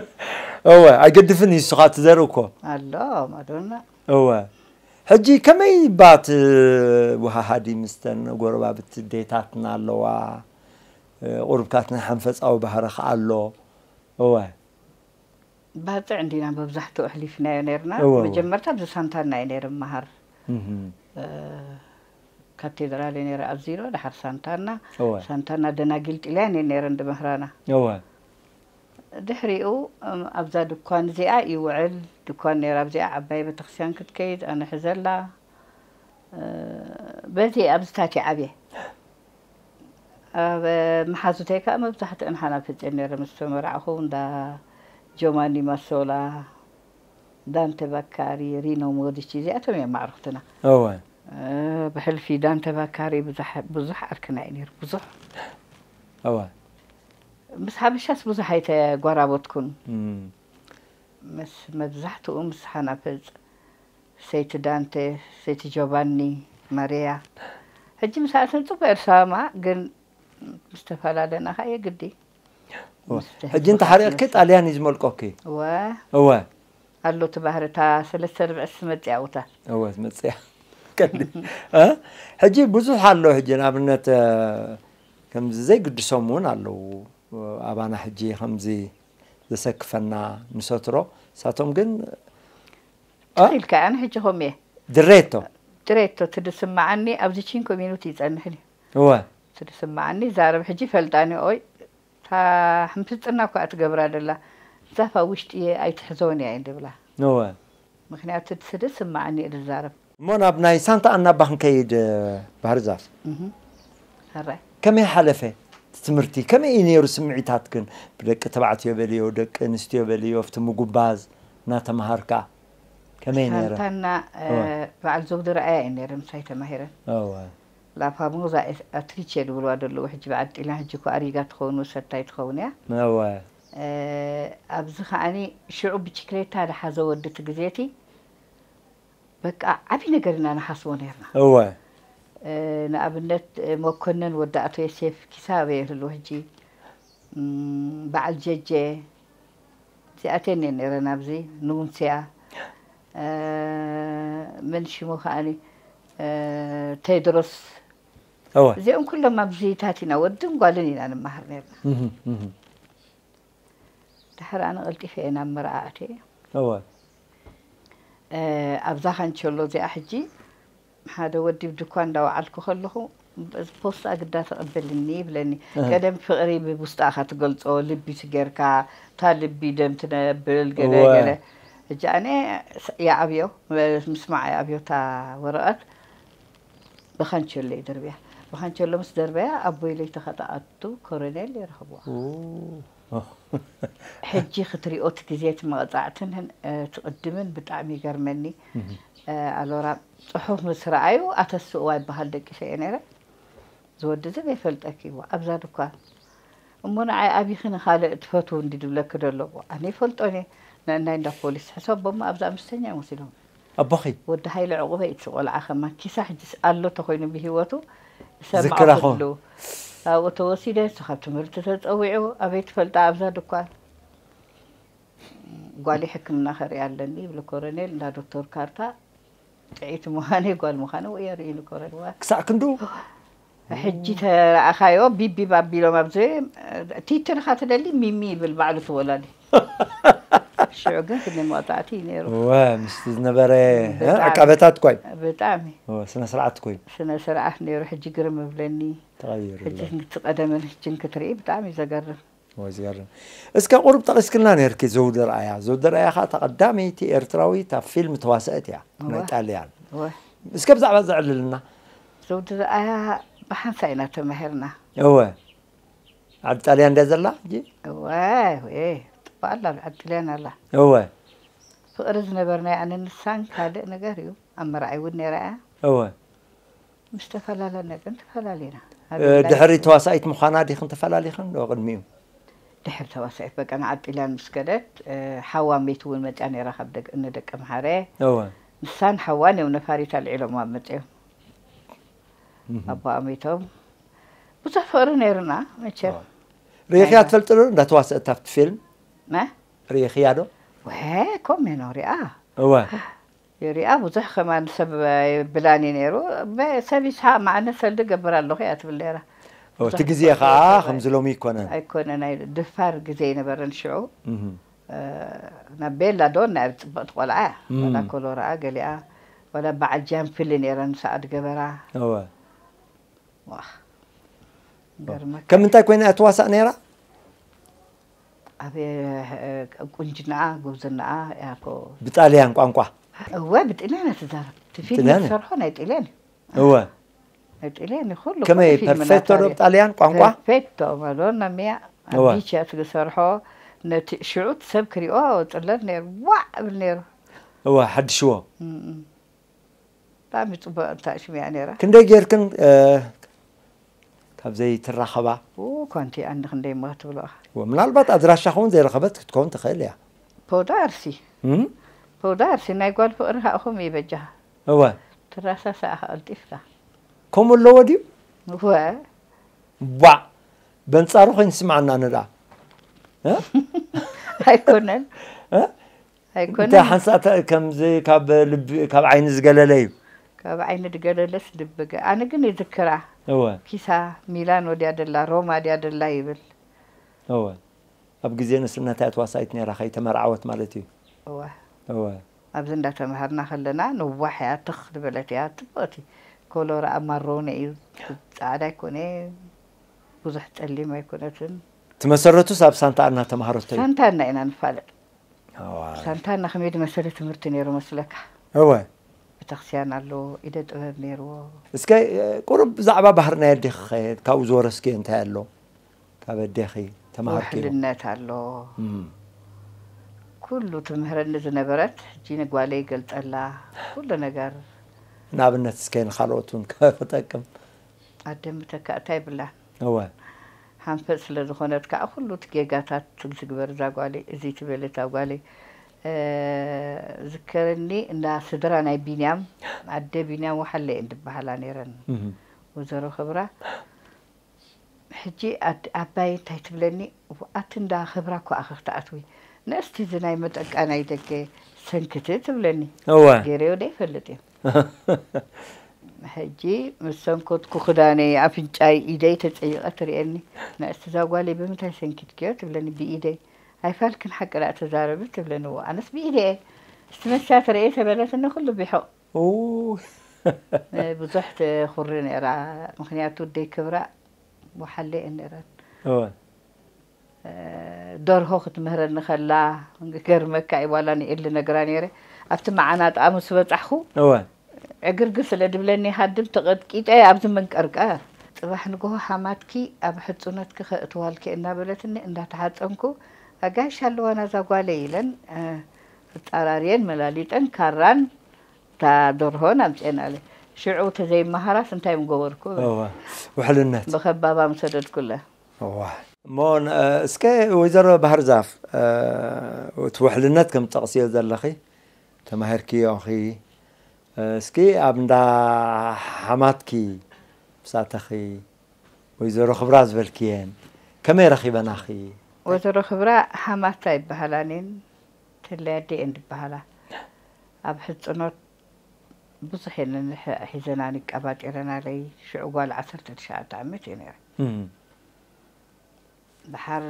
እወ ኣይገድፍን እዩ ንስኻ ትዘርኢ እኮ ኣሎ ማዶና እወ ሕጂ ከመይ እባ ትወሃሃዲ ምስተን ጎረባብቲ ዴታትና ኣለዋ ቁርብታት ናይ ሓንፈጻዊ ባህሪ ከኣ ኣሎ እወ። ባጽዕ እንዲና መብዛሕትኡ ኣሕሊፍናዮ ኔርና እወ እወ። መጀመርታ ኣብዚ ሳንታና እየ ኔረ እመሃር ካቴድራል እየ ኔረ ኣዚሮ ደሓር ሳንታና እወ ሳንታና ደናጊል ጥልያን እየን ኔረን ድምህራና እወ። ድሕሪኡ ኣብዛ ድኳን እዚኣ ይውዕል ድኳን ኔራ ኣብዚኣ ዓባይ ቤተክርስትያን ክትከይድ ኣነ ሕዘላ በዚ ኣብዚታት እየ ዓብየ። ኣብ መሓዙተይ ከኣ መብዛሕትአን ሓላፊተይ'የን ነይረን። ምስ ተመራዕኹ እንዳ ጆማኒ ማሶላ፣ ዳንተ ባካሪ፣ ሪኖ ሞዲቺ እዚኣቶም እዮም ኣዕሩኽትና። እወ። ብሕልፊ ዳንተ ባካሪ ብዙሕ ብዙሕ ዓርክና እዩ ነይሩ፣ ብዙሕ። እወ። ምስ ሓበሻስ ብዙሕ ኣይተጓራበትኩን። ምስ መብዛሕትኡ ምስ ሓናፍጽ ሰይቲ ዳንተ ሰይቲ ጆቫኒ ማርያ ሕጂ ምስኣተን ጽቡቅ እየ ዝሰማማዕ ግን ምስ ተፈላለና ከኣ የግዲ ሕጂ እንተ ሓሪቕኪ ጣልያን እዩ ዝመልቆኪ እወ እወ ኣሎ እቲ ባህሪ እታ ሰለስተ ርብዒ ትመጽእ ኣብኡ እታ እወ ትመጽእ እያ ቀንዲ እ ሕጂ ብዙሕ ኣሎ ሕጂ ንኣብነት ከምዚ ዘይግድሶም እውን ኣለዉ ኣባና ሕጂ ከምዚ ዘሰክፈና ንሰትሮ ንሳቶም ግን ትር ኢልካ ኣነ ሕጂ ከምኡ እየ ድሬቶ ድሬቶ እቲ ዝስማዓኒ ኣብዚ ቺን ኮሚኑቲ ይጸንሕን እዩ እወ እቲ ዝስማዓኒ ይዛረብ ሕጂ ይፈልጣን እየ ኦይ እታ ሕምስጥና እኳ እትገብራ ደላ ዛፍ ኣብ ውሽጢ እየ ኣይትሕዞን እያ እየን ዝብላ እወ ምክንያቱ እቲ ዝስማዓኒ እየ ዝዛረብ። እሞ ናብ ናይ ሳንታ ኣና እባ ክንከይድ ባህር ዛፍ ሕራይ ከመይ ሓለፈ እቲ ትምህርቲ ከመይ እዩ ኔሩ ስምዒታትክን ብደቂ ተባዕትዮ በልዮ ደቂ ኣንስትዮ በልዮ ኣብቲ ምጉባዝ እናተማሃርካ ከመይ ነይረ? ሳንታና እወ። በዓል ዘውዲ ርኣያ እዩ ነይረ ምሳይ ተማሂረን። እወ። ላ ፋሞዛ ኤ ኣትሪቼ ዝብልዋ ደለዉ ሕጂ በዓል ጢልያን ሕጂ እኮ ኣሪጋ ትኸውን ወሰታይ ትኸውን እያ። እወ። ኣብዚ ከዓኒ ሽዑ ብቺክሌታ ዝሓዘ ወዲ እቲ ግዜ እቲ በቃ ዓቢ ነገር ኢና ንሓስቦ ነይርና። እወ። ንኣብነት መኮነን ወዲ ኣቶ የሴፍ ኪሳበ ይህሉ ሕጂ በዓል ጀጀ። እዚኣ ኣትየን'የ ነይረ ናብዚ ንውንስያ መን ሽሙ ከኣኒ ቴድሮስ እወ እዚኦም ኩሎም ኣብዚታት ኢና ወድን ጓልን ኢና ንመሃር ነርና እህ እህ ድሕር ኣነ ቀልጢፈ እየ ናብ መርዓ ኣትየ እወ ኣብዛ ካንቸሎ እዚኣ ሕጂ ሓደ ወዲ ኣብ ድኳን እንዳወዓልኩ ከለኹ ፖስታ ግዳ ተቐበልኒ ይብለኒ። ቀደም ፍቕሪ ብቡስጣ ኢኻ ትገልጾ፣ ልቢ ትገርካ፣ እታ ልቢ ደም ትነብል ገለ ገለ። ሕጂ ኣነ ይዓብዮ ምስማዕ ይኣብዮ እታ ወረቐት ብኻንቸሎ ይድርብያ። ብኻንቸሎ ምስ ደርበያ ኣቦይ ለይቲ ከተኣቱ ኮረኔል ይረኽብዋ። ሕጂ ክትሪኦ እቲ ግዜ እቲ መቅጻዕትን እቲ ቅድምን ብጣዕሚ ይገርመኒ ኣሎራ ጽሑፍ ምስ ረኣዩ ኣተስእዋ ይበሃል ደቂሰ እየ ነይረ እዚ ወዲ እዚ ዘይፈልጠኪ እዎ ኣብዛ ድኳን እሞ ንዓይ ኣቢኺ ንኻልእ ትፈትው እንዲ ድብለኪ ዶ ኣሎ እሞ ኣነ ይፈልጦን እየ ንእናይ እንዳ ፖሊስ ሕሰቦ እሞ ኣብዛ ኣምስተኛ እየ ወሲዶም ኣቦኺ። ወዲ ሃይለ ዑቕበ ኢትስ ቆልዓ ከማ ኪሳ ሕጂስ ኣሎ ተኾይኑ ብሂወቱ ዝሰምዖ ዝክራ ኹን። ኩሉ ኣብኡ ተወሲደ እሱ ካብ ትምህርቲ ተጸዊዑ ኣበይ ትፈልጣ ኣብዛ ድኳን ጓለይ ሕክምና ከርእያ ኣለኒ ይብሉ ኮረኔል እንዳ ዶክቶር ካርታ ጥዕይቲ ምዃነይ ጓል ምዃነይ ወዮ ኣርእዩኒ ኮረኔል እዋይ ክሳዕ ክንዱ ሕጂ ተረኣኻዮ ቢቢ ባቢ ኢሎም ኣብ ቲቲ ድኻ ትደሊ ሚሚ ይብል ባዕሉ እቲ ወላዲ ሽዑ ግን ክንደይ መቕጻዕቲ እዩ ነይሩ እወ ምስቲ ዝነበረ ዕቃበታት እኳ እዩ ብጣዕሚ ስነ ስርዓት እኮ እዩ ስነ ስርዓት ነይሩ ሕጂ ግርም እብለኒ ተቐይሩ ኣሎ ሕጂ እቲ ቀደምን ሕጂን ክትርኢ ብጣዕሚ እዩ ዘገርም ወይ ዝገርም እስከ ቁሩብ ጠቂስክልና ነርኪ ዘውዲ ርኣያ ዘውዲ ርኣያ ከኣ እታ ቀዳመይቲ ኤርትራዊት ኣብ ፊልም ተዋሰእት እያ ናይ ጣልያን እስከ ብዛዕባ እዚ ኣዕልልና ዘውዲ ርኣያ ብሓንሳእ ኢና ተማሂርና እወ ዓዲ ጣልያን ድያ ዘላ ሕጂ እወ ጥቡቅ ኣላ ኣብ ዓዲ ጣልያን ኣላ እወ ፍቅሪ ዝነበርናያ ኣነ ንሳን ካልእ ነገር እዩ ኣብ መርዓይ እውን ነይራ እያ እወ ምስ ተፈላለና ግን ተፈላሊና። ድሕሪ ተዋሳኢት ምዃና ዲኽን ተፈላሊኽን ዶ ቅድሚኡ? ድሕሪ ተዋሳኢት በቃ ንዓጲላን ምስ ከደት ሓዋ ሚቲ እውን መፂኣ ነይራ ካብ ደቂ እነ ደቂ መሓረ እወ ንሳን ሓዋን እዮም ነፋሪት ኣልዒሎም ኣብ መፂኦም ኣቦኣ ሚቶም ብዙሕ ፍቕሪ ነይሩና መቸም ርኢኽያ ትፈልጢ ዶ እንዳ ተዋስእት ኣብቲ ፊልም መ ርኢኽያ ዶ? ወ ኮሜኖ ሪኣ እወ ይሪኣ ብዙሕ ከማን ሰብ ኣይብላን እዩ ነይሩ ሰብ ይስሓቅ መዓነ ሰልዲ እገብር ኣለኹ እያ ትብል ነይራ ኦ እቲ ግዜ ከኣ ከምዚ ሎሚ ኣይኮነን ኣይኮነን ናይ ድፋር ግዜ ኣይነበረን ሽዑ ናብ ቤላ ዶ ናይ ጽብቕቲ ቆልዓ እያ ዋላ ኮሎራኣ ገሊኣ ዋላ በዓል ጃንፍሊ ነይረን ምስ ኣድ ገበራ እወ ዋህ ገርመካ ከም እንታይ ኮይና እያ ትዋሳእ ነይራ ኣቤት ቁንጅናኣ ጉብዝናኣ ያኮ። ብጣልያን ቋንቋ። እወ ብጥልያን እያ ትዛረብ እቲ ፊልም ጥልያን እያ? ዝሰርሖ ናይ ጥልያን እዩ እወ ናይ ጥልያን እዩ ኩሉ ከመይ ኩሉ ፊልምና ፐርፌክቶ ዶ ታሪክ ብጣልያን ቋንቋ ፐርፌክቶ ማዶና ሚያ እወ። ኣብ ቢች እያ ትሰርሖ ነቲ ሽዑ እቲ ሰብ ክሪኦ ጽለል ነይሩ ዋዕ እብል ነይሩ እወ ሓድሽዎ እም እም። ብጣዕሚ ፅቡቅ ኣንታ ሽም እያ ነይራ። ክንደይ ጌርክን ካብ ዘይትራኸባ? ኡኡ ኮንቲ እያ እኒ ክንደይ እሞ ክትብልዋ። እወ ምናልባት ኣድራሻኺ እውን ዘይረኸበት ክትከውን ትኽእል እያ። ፖውዳ ኣርሲ እም? ፖውዳ ኣርሲ ናይ ጓል ፍቅሪ ኻኣ ከምኡ እዩ በጃኻ እወ ትራሳሳ እኻ ቀልጢፍካ። ከምኡ ኣለዎ ድዩ? እወ። ባእ በንጻሩ ከይንስምዓና ንርኣ። ኣይኮነን። ኣይኮነን እንታይ ሓንሳእ ተ- ከምዚ ካብ ልቢ ካብ ዓይኒ ዝገለለ እዩ ካብ ዓይኒ ድገለለስ ልቢ ገ ኣነ ግን ይዝክራ እወ ፒሳ ሚላኖ ድያ ደላ ሮማ ድያ ደላ ይብል እወ ኣብ ግዜ ንእስነታ እያ ተዋሳኢት ነይራ ከይተመርዓወት ማለት እዩ እወ እወ ኣብዚ እንዳተምሃርና ከለና ነዋሕ እያ ትኽ ዝበለት እያ ጽብቕቲ ኮሎራኣ ማሮነ እዩ ጻዕዳ ኣይኮነ ብዙሕ ጸሊም ኣይኮነትን ትመሰረቱስ ኣብ ሳንታ ኣና ተማሃረቶ እዩ ሳንታና ኢና ንፋለጥ ሳንታና ከመይ ድመ ሰለ ትምህርቲ ነይሩ መስለካ? እወ። ቤተክርስቲያን ኣለዎ፣ ኢደ ጥበብ ነይርዎ። እስከ ቁሩብ ብዛዕባ ባህሪ ናይ ኣዴኺኸ ካብኡ ዝወረስክዮ እንታይ ኣሎ? ካብ ኣዴኺ ተማሃርክዮ? ውሕልነት ኣሎ። ኩሉ ትምህረኒ ዝነበረት ሕጂ ንጓለይ ይገልጸላ ኩሉ ነገር። ንኣብነት እስከ ንኻልኦት እውን ክጠቅም። ኣደ ምተካእታ የብላን። እወ። ሃንፈጽ ስለ ዝኾነት ከኣ ኩሉ እቲ ጌጋታት ዝግበር እዛ ጓለይ እዚ ትብል እታ ጓለይ ዝከረኒ እንዳ ስድራ ናይ ቢንያም ኣደ ቢንያም ወሓለ እየን ድበሃላ ነይረን ወዘሮ ክብራ ሕጂ ኣባይ እንታይ ትብለኒ ኣቲ እንዳ ክብራ እኮ ኣኺ ክትኣትዊ ነእስቲ እዚ ናይ መጠቃ ናይ ደገ ሰንክቲ ትብለኒ ገይረዮ ደይፈልጥ እየ ሕጂ ምስ ሰንኮትኩ ክዳነይ፣ ኣፍንጫይ፣ ኢደይ ተጸይቐ ትርእየኒ። ንእስቲ እዛ ጓለይ ብምንታይ ሰንኪትክዮ? ትብለኒ። ብኢደይ። ኣይፋልክን ሓቂ ደኣ ተዛረቢ ትብለኒ። እወ ኣነስ ብኢደይ'የ። እስቲ መስትያት ርእየ ተበለትኒ ኩሉ ቢሑቕ። ብዙሕ ትኹሪ ነይራ ምኽንያቱ ደይ ክብራ ወሓለ'የን ነይረን። ደርሆ ክትምህረኒ ከላ ክገርመካ እዩ ዋላ ንኤል ልነግራ ነይረ ኣብቲ መዓናጣኣ ምስ በጻሕኩ እወ ዕግርግር ስለ ድብለኒ ሃድም ተቐጥቂጠ እየ ኣብዚ መንቀርቀር ጽባሕ ንግሆ ሓማትኪ ኣብ ሕጹነትኪ ከእትዋልኪ እየ እናበለትኒ እንዳተሓጸንኩ ኣጋይሽ ኣለዋና እዛ ጓለይ ኢለን ኣጻራርየን መላሊጠን ካራን እታ ደርሆን ኣምጽኤናለይ ሽዑ ተዘይመሃራስ እንታይ ምገበርኩ እብል እወ ውሕልነት። ብከባባ ምሰደድኩለን። እዋይ። እሞ እስከ ወይዘሮ ባህርዛፍ እቲ ውሕልነት ከም ትጠቕስዮ ዘለኺ ተማሂርክዮ ኢኺ እስኪ ኣብ እንዳ ሓማትኪ ምስ ኣተኺ ወይዘሮ ክብራ ዝበልክየን ከመይ ረኺበናኺ? ወይዘሮ ክብራ ሓማት ኣይበሃላን እየን ተለይ ኣደይ እየን ዝበሃላ ኣብ ሕፅኖት ብዙሕ የለን ሕ- ሒዘናኒ ቀባጢረናለይ ሽዑ ጓል ዓሰርተ ትሽዓተ ዓመት እየ ነይረ ድሓር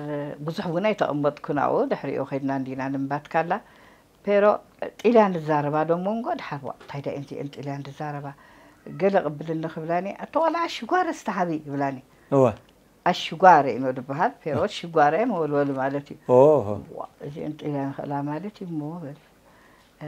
ብዙሕ እውን ኣይተቐመጥኩን ኣብኡ ድሕሪኡ ከድና እንዲና ንምባትካላ ፔሮ ጢልያን ዝዛረባ ዶ ሞንጎ ድሓር ዋ እንታይ ዳእየን እዚኤን ጢልያን ዝዛረባ ገለ ቅብልኒ ክብላኒ ኣቲ ቆልዓ ኣሽጓረ እስቲ ሃቢ ይብላኒ እወ ኣሽጓረ ኢኖ ድበሃል ፔሮ ሽጓረ መወልወሊ ማለት እዩ ኦሆ ዋ እዚኤን ጢልያን ይኽእላ ማለት እዩ እሞ በል እ፣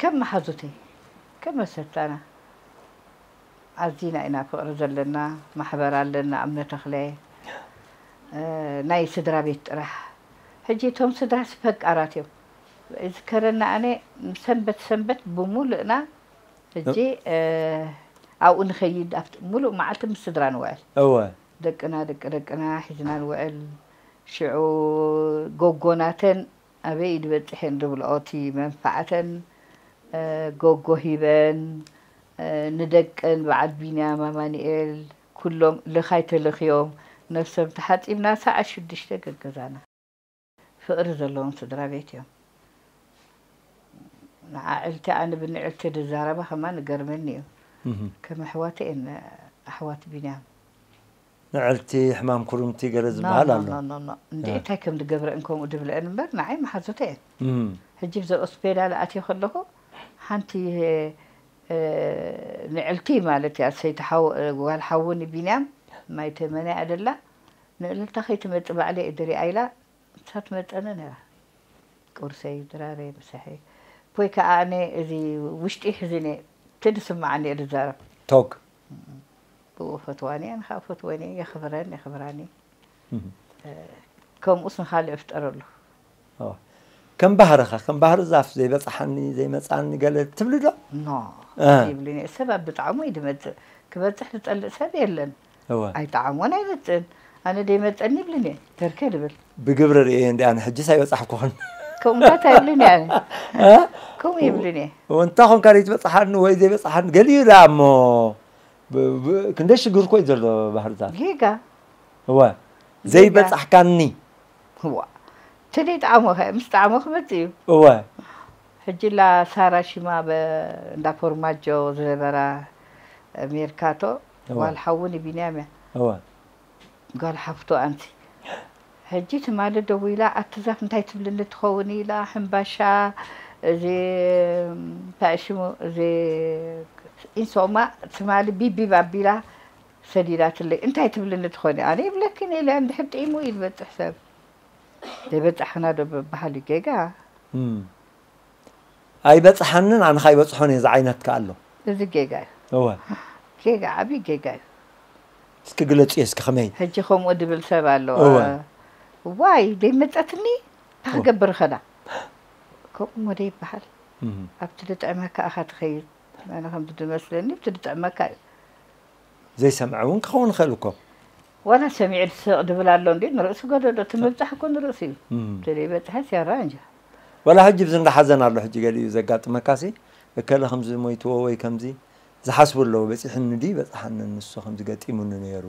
ከም መሓዙተይ ከም መሰታና ኣዚና ኢና ፍቅሪ ዘለና ማሕበር ኣለና እምነ ተክለ ናይ ስድራ ቤት ጥራሕ ሕጂ እቶም ስድራስ ፈቃራት እዮም ዝከረና ኣነ ሰንበት ሰንበት ብሙሉእና ሕጂ ኣብኡ ንከይድ ኣብቲ ሙሉእ መዓልቲ ምስ ስድራ ንውዕል እወ ደቅና ደቂ ደቅና ሒዝና ንውዕል ሽዑ ጎጎናተን ኣበይ ድዩ በጺሐን ዝብልኦ እቲ መንፋዕተን ጎጎ ሂበን ንደቀን በዓል ቢንያም ኣማኒኤል ኩሎም ልኻይ ተለኽዮም ነብሶም ተሓጺብና ሰዓት ሽዱሽተ ገገዛና ፍቅሪ ዘለዎም ስድራቤት እዮም ንዓዕልቲ ኣነ ብንዕልቲ ድዛረባ ከማን እገርመኒ እዩ ከም ኣሕዋተይ እየን ኣሕዋት ቢንያም። ንዕልቲ ሕማም ኩርምቲ ገለ ዝብሃል ኣሎ። ኖኖኖኖ እንድዒ እንታይ ከም ድገብረእን ከምኡ ድብለእን እምበር ንዓይ መሓዙተይ እየን። ሕጂ ብዛ ኦስፔዳል ኣትየ ከለኹ ሓንቲ ንዕልቲ ማለት እያ ሰይቲ ሓው ጓል ሓዉ ንቢንያም ማይ ተመነ እያ ደላ ንእልልታ ከይትመጽእ ባዕለይ እየ ድሪኣ ኢላ ንሳ ትመጸኒ ነራ ቁርሰይ ድራረይ ምሳሐይ ፖይ ከኣ ኣነ እዚ ውሽጢይ ሕዚን እየ እቲ ድስመዓኒ እየ ድዛረብ። ቶግ። ብኡ እፈትዋን እየ ኣነኸኣ እፈትዎን እየ የኽብረን የኽብራን እዩ ከምኡስ ንኻልእ እፍጠረሉ ከም ባህርኻ ከም ባህሪ ዛፍ ዘይበፅሓኒ ዘይመፃኒ ገለ ትብሊ ዶ ኖ ይብልን እየ ሰብ ኣብ ብጣዕሙ እዩ ዝመፅእ ክበፅሕ ዝፀልእ ሰብ የለን ኣይጠዓሞን ኣይመፅእን ኣነ ደይመፀኒ ይብልን እየ ተርከ ድብል ብግብሪ ርእየ እንዲ ኣነ ሕጅስ ኣይበፃሕኩኹን ከምኡታት ኣይብልን እየ ከምኡ ይብልን እየ እንታ ኮንካ ዘይትበፅሓኒ ወይ ዘይበፅሓኒ ገሊኡ ደኣ እሞ ክንደይ ሽግር እኮ እዩ ዘሎ ባህርዛፍ ጌጋ እወ ዘይበፃሕካኒ ዋ ትዲ ጣዕሙ ከ ምስ ጣዕሙ ክመፅእ እዩ እወ ሕጂላ ሳራ ሽማ ብ እንዳ ፎርማጆ ዝነበራ ሜርካቶ እወ ጓል ሓዉ ንቢንያም እያ እወ ጋል ሓፍቱ ኣንቲ ሕጂ ትማሊ ደዊላ ኣቲ ዛፍ እንታይ ትብልኒ ትከውን ኢላ ሕንባሻ እዚ እንታይ ሽሙ እዚ ኢንሶማ ትማሊ ቢቢብ ኣቢላ ሰዲዳትለይ እንታይ ትብልኒ ትኮኒ ኣነ ይብለኪን እየ ኢለ እንድሕር ጥዒሙ እዩ ዝበጽሕ ሰብ ዘይበጻሕክና ዶ በበሃል እዩ ጌጋ ኣይበጽሓንን ኣነ ከኣ ይበጽሖን እየ ዝዓይነት ከኣ ኣሎ። እዚ ጌጋ እዩ። እወ። ጌጋ ዓቢ ጌጋ እዩ። እስኪ ግለጽዮ እስኪ ከመይ። ሕጂ ከምኡ ድብል ሰብ ኣሎ። እወ። ዋይ ደይመጸትኒ እንታይ ክገብር እኸዳ። ከምኡ እሞ ደይበሃል። ኣብቲ ድጥዕመካ እኻ ትኸይድ። ኣነ ከምቲ ድመስለኒ ብቲ ድጥዕመካ እዩ። ዘይሰምዐ እውን ክኸውን ይኸእል እኮ። ዋላ ሰሚዑ ድስሕቕ ድብል ኣሎ እንድዩ ንርእሱ ገደዶ እቲ ምብጻሕ እኮ ንርእሱ እዩ። እቲ ደይበጽሐስ ያራኣንጃ። ዋላ ሕጂ ብዚ እንዳ ሓዘን ኣሎ ሕጂ ገሊኡ ዘጋጥመካሲ እከለ ከምዚ ሞይትዎ ወይ ከምዚ ዝሓስቡ ኣለዉ በጺሕኒ ድዩ ኣይበጽሓንን ንሱ ከምዚ ገጢሙኒ ኔሩ።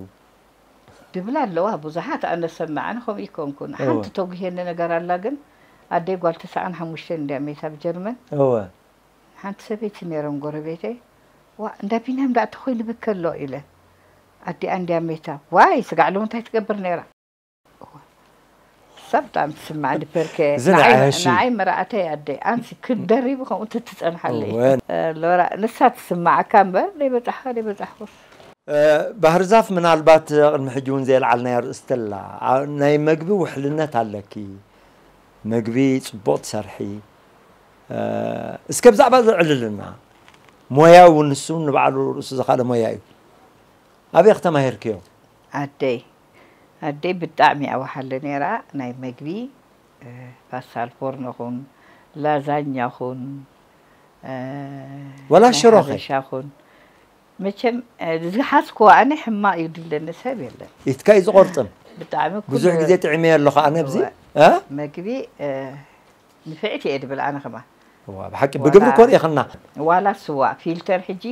ድብላ ኣለዋ ቡዙሓት ኣነ ዝሰምዕ ኣነ ከምኡ ኣይኮንኩን ሓንቲ ተጉህየኒ ነገር ኣላ ግን ኣደይ ጓል ተሰዓን ሓሙሽተን እንድያ መይታ ኣብ ጀርመን እወ። ሓንቲ ሰበይቲ ኔሮም ጎረቤተይ ዋእ እንዳ ቢንያም ድኣ ተኮይኑ ይብኪ ኣሎ ኢለን ኣዲኣ እንድያ መይታ ዋይ ስጋዕ ሎሚ እንታይ ትገብር ኔራ። sometimes ስማዕ ድፐርከ እዚ ንዓይ ንዓይ እሺ። ንዓይ መርዓተይ ኣደይ ኣንሲ ክትደሪቢ ከምኡ ትትጸንሓለ እየ እወ። ሎራ ንሳ ትስምዓካ እምበር ደይበጻሕካ ደይበጻሕኩስ ባህርዛፍ ምናልባት ቅድሚ ሕጂ እውን ዘየልዓልናያ ርእስቲ ኣላ ኣ- ናይ መግቢ ውሕልነት ኣለኪ መግቢ ጽቡቕ ትሰርሒ እ፣ እስከ ብዛዕባ እዚ ዕልልና ሞያ እውን ንሱ ንባዕሉ ርእሱ ዝኻለ ሞያ እዩ ኣበይ ተማሂርክዮ? ዓደይ ኣደይ ብጣዕሚ ኣዋሓሊ ነይራ ናይ መግቢ ፓስታል ፎርኖ ኹን ላዛኛ ኹን ወላ ሽሮ ከ ሻኹን መቸም ዝሓዝክዎ ኣነ ሕማቅ እዩ ድብለኒ ሰብ የለን ኢትካ እዩ ዝቆርጥም ብጣዕሚ ብዙሕ ግዜ ጥዒመዮ ኣለኹ ኣነ ኣብዚ መግቢ ንፍዕቲ እየ ድብል ኣነ ከማን። እዋ ብሓቂ ብግብሪ እኮ ሪኢክና። ዋላ ስዋ ፊልተር ሕጂ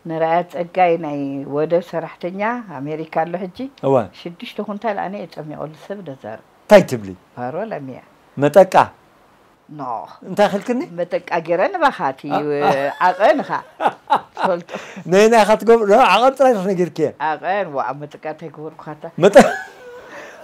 ንርኣያ ጸጋይ ናይ ወደብ ሰራሕተኛ ኣሜሪካ ኣሎ ሕጂ እወ ሽዱሽተ ኩንታል ኣነ እየ ጸሚቀሉ ሰብ ነዛርብ ታይ ትብሊ ፓሮል ኣሚያ መጠቃ ኖህ እንታይ ክልክኒ መጠቃ ገረ ንባካቲ ዓቀን እካ ትፈልጦ ነየናይ ኢካ ትገብሮ ዓቀን ጥራይ ኢካ ነጊርክየን ዓቀን ዋእ መጠቃ እንታይ ገበርኩካታ መጠ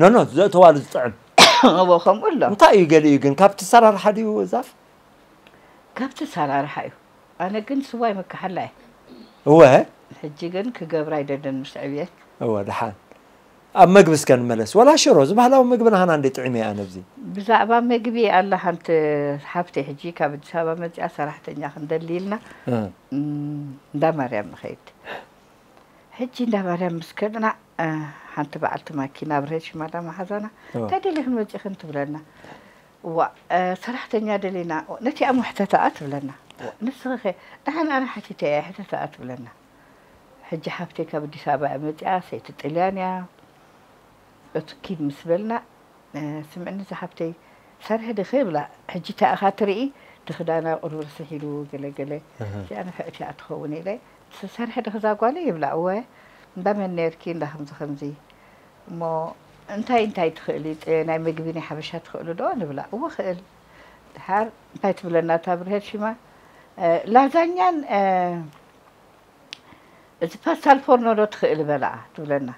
ኖኖ ዘእተዋሉ ዝጥዕም እዎ ከምኡ ኣሎ እንታይ እዩ ገሊኡ ግን ካብቲ ሰራርሓ ድዩ ዛፍ ካብቲ ሰራርሓ እዩ ኣነ ግን ስዋ ይምከሓላ እየ እወ ሕጂ ግን ክገብራ ኣይደልን ምስ ዕብየ እወ ደሓን ኣብ መግቢ እስከ ንመለስ ወላ ሽሮ እዚ ባህላዊ ምግቢ ናሃና እንደ ጥዒመ እየ ኣነ እዚ ብዛዕባ መግቢ ኣላ ሓንቲ ሓፍተይ ሕጂ ካብ ኣዲስ ኣበባ መፂኣ ሰራሕተኛ ክንደሊ ኢልና እንዳ ማርያም ንኸይድ ሕጂ እንዳ ማርያም ምስ ከድና ሓንቲ በዓልቲ ማኪና ኣብርሀት ሽማዳ መሓዛና እወ። እንታይ ደሊኽን መጺኽን ትብለና እዋእ ሰራሕተኛ ደሊና ነቲኣ እሞ ሕተታኣ ትብለና እዋእ ንስኺኸ ደሓን ኣነ ሓቲተያ ሕተታኣ ትብለና ሕጂ ሓፍተይ ካብ ኣዲስ ኣበባ እያ መጺኣ ሰይቲ ጥልያን እያ እቱ ኪድ ምስ በልና እ፣ ስምዕኒ እዛ ሓፍተይ ሰርሒ ድኺ እብላ ሕጂ እንታይ ኢኻ ትርኢ እቲ ክዳና ቁሩብ ርስሕ ኢሉ ገለ ገለ እዚኣ ንፍዕቲ እያ ትኸውን ኢለ ትሰርሒ ዲኺ እዛ ጓለይ ይብላ እወ እንዳ መን ኔርኪ እንዳ ከምዚ ከምዚ እሞ እንታይ እንታይ ትኽእሊ ጥሬ ናይ ምግቢ ናይ ሓበሻ ትኽእሊ ዶ ንብላ እወ እኽእል ድሓር እንታይ ትብለና እታ ብርሄድ ሽማ ላዛኛን እዚ ፓስታል ፎርኖ ዶ ትኽእሊ በላ ትብለና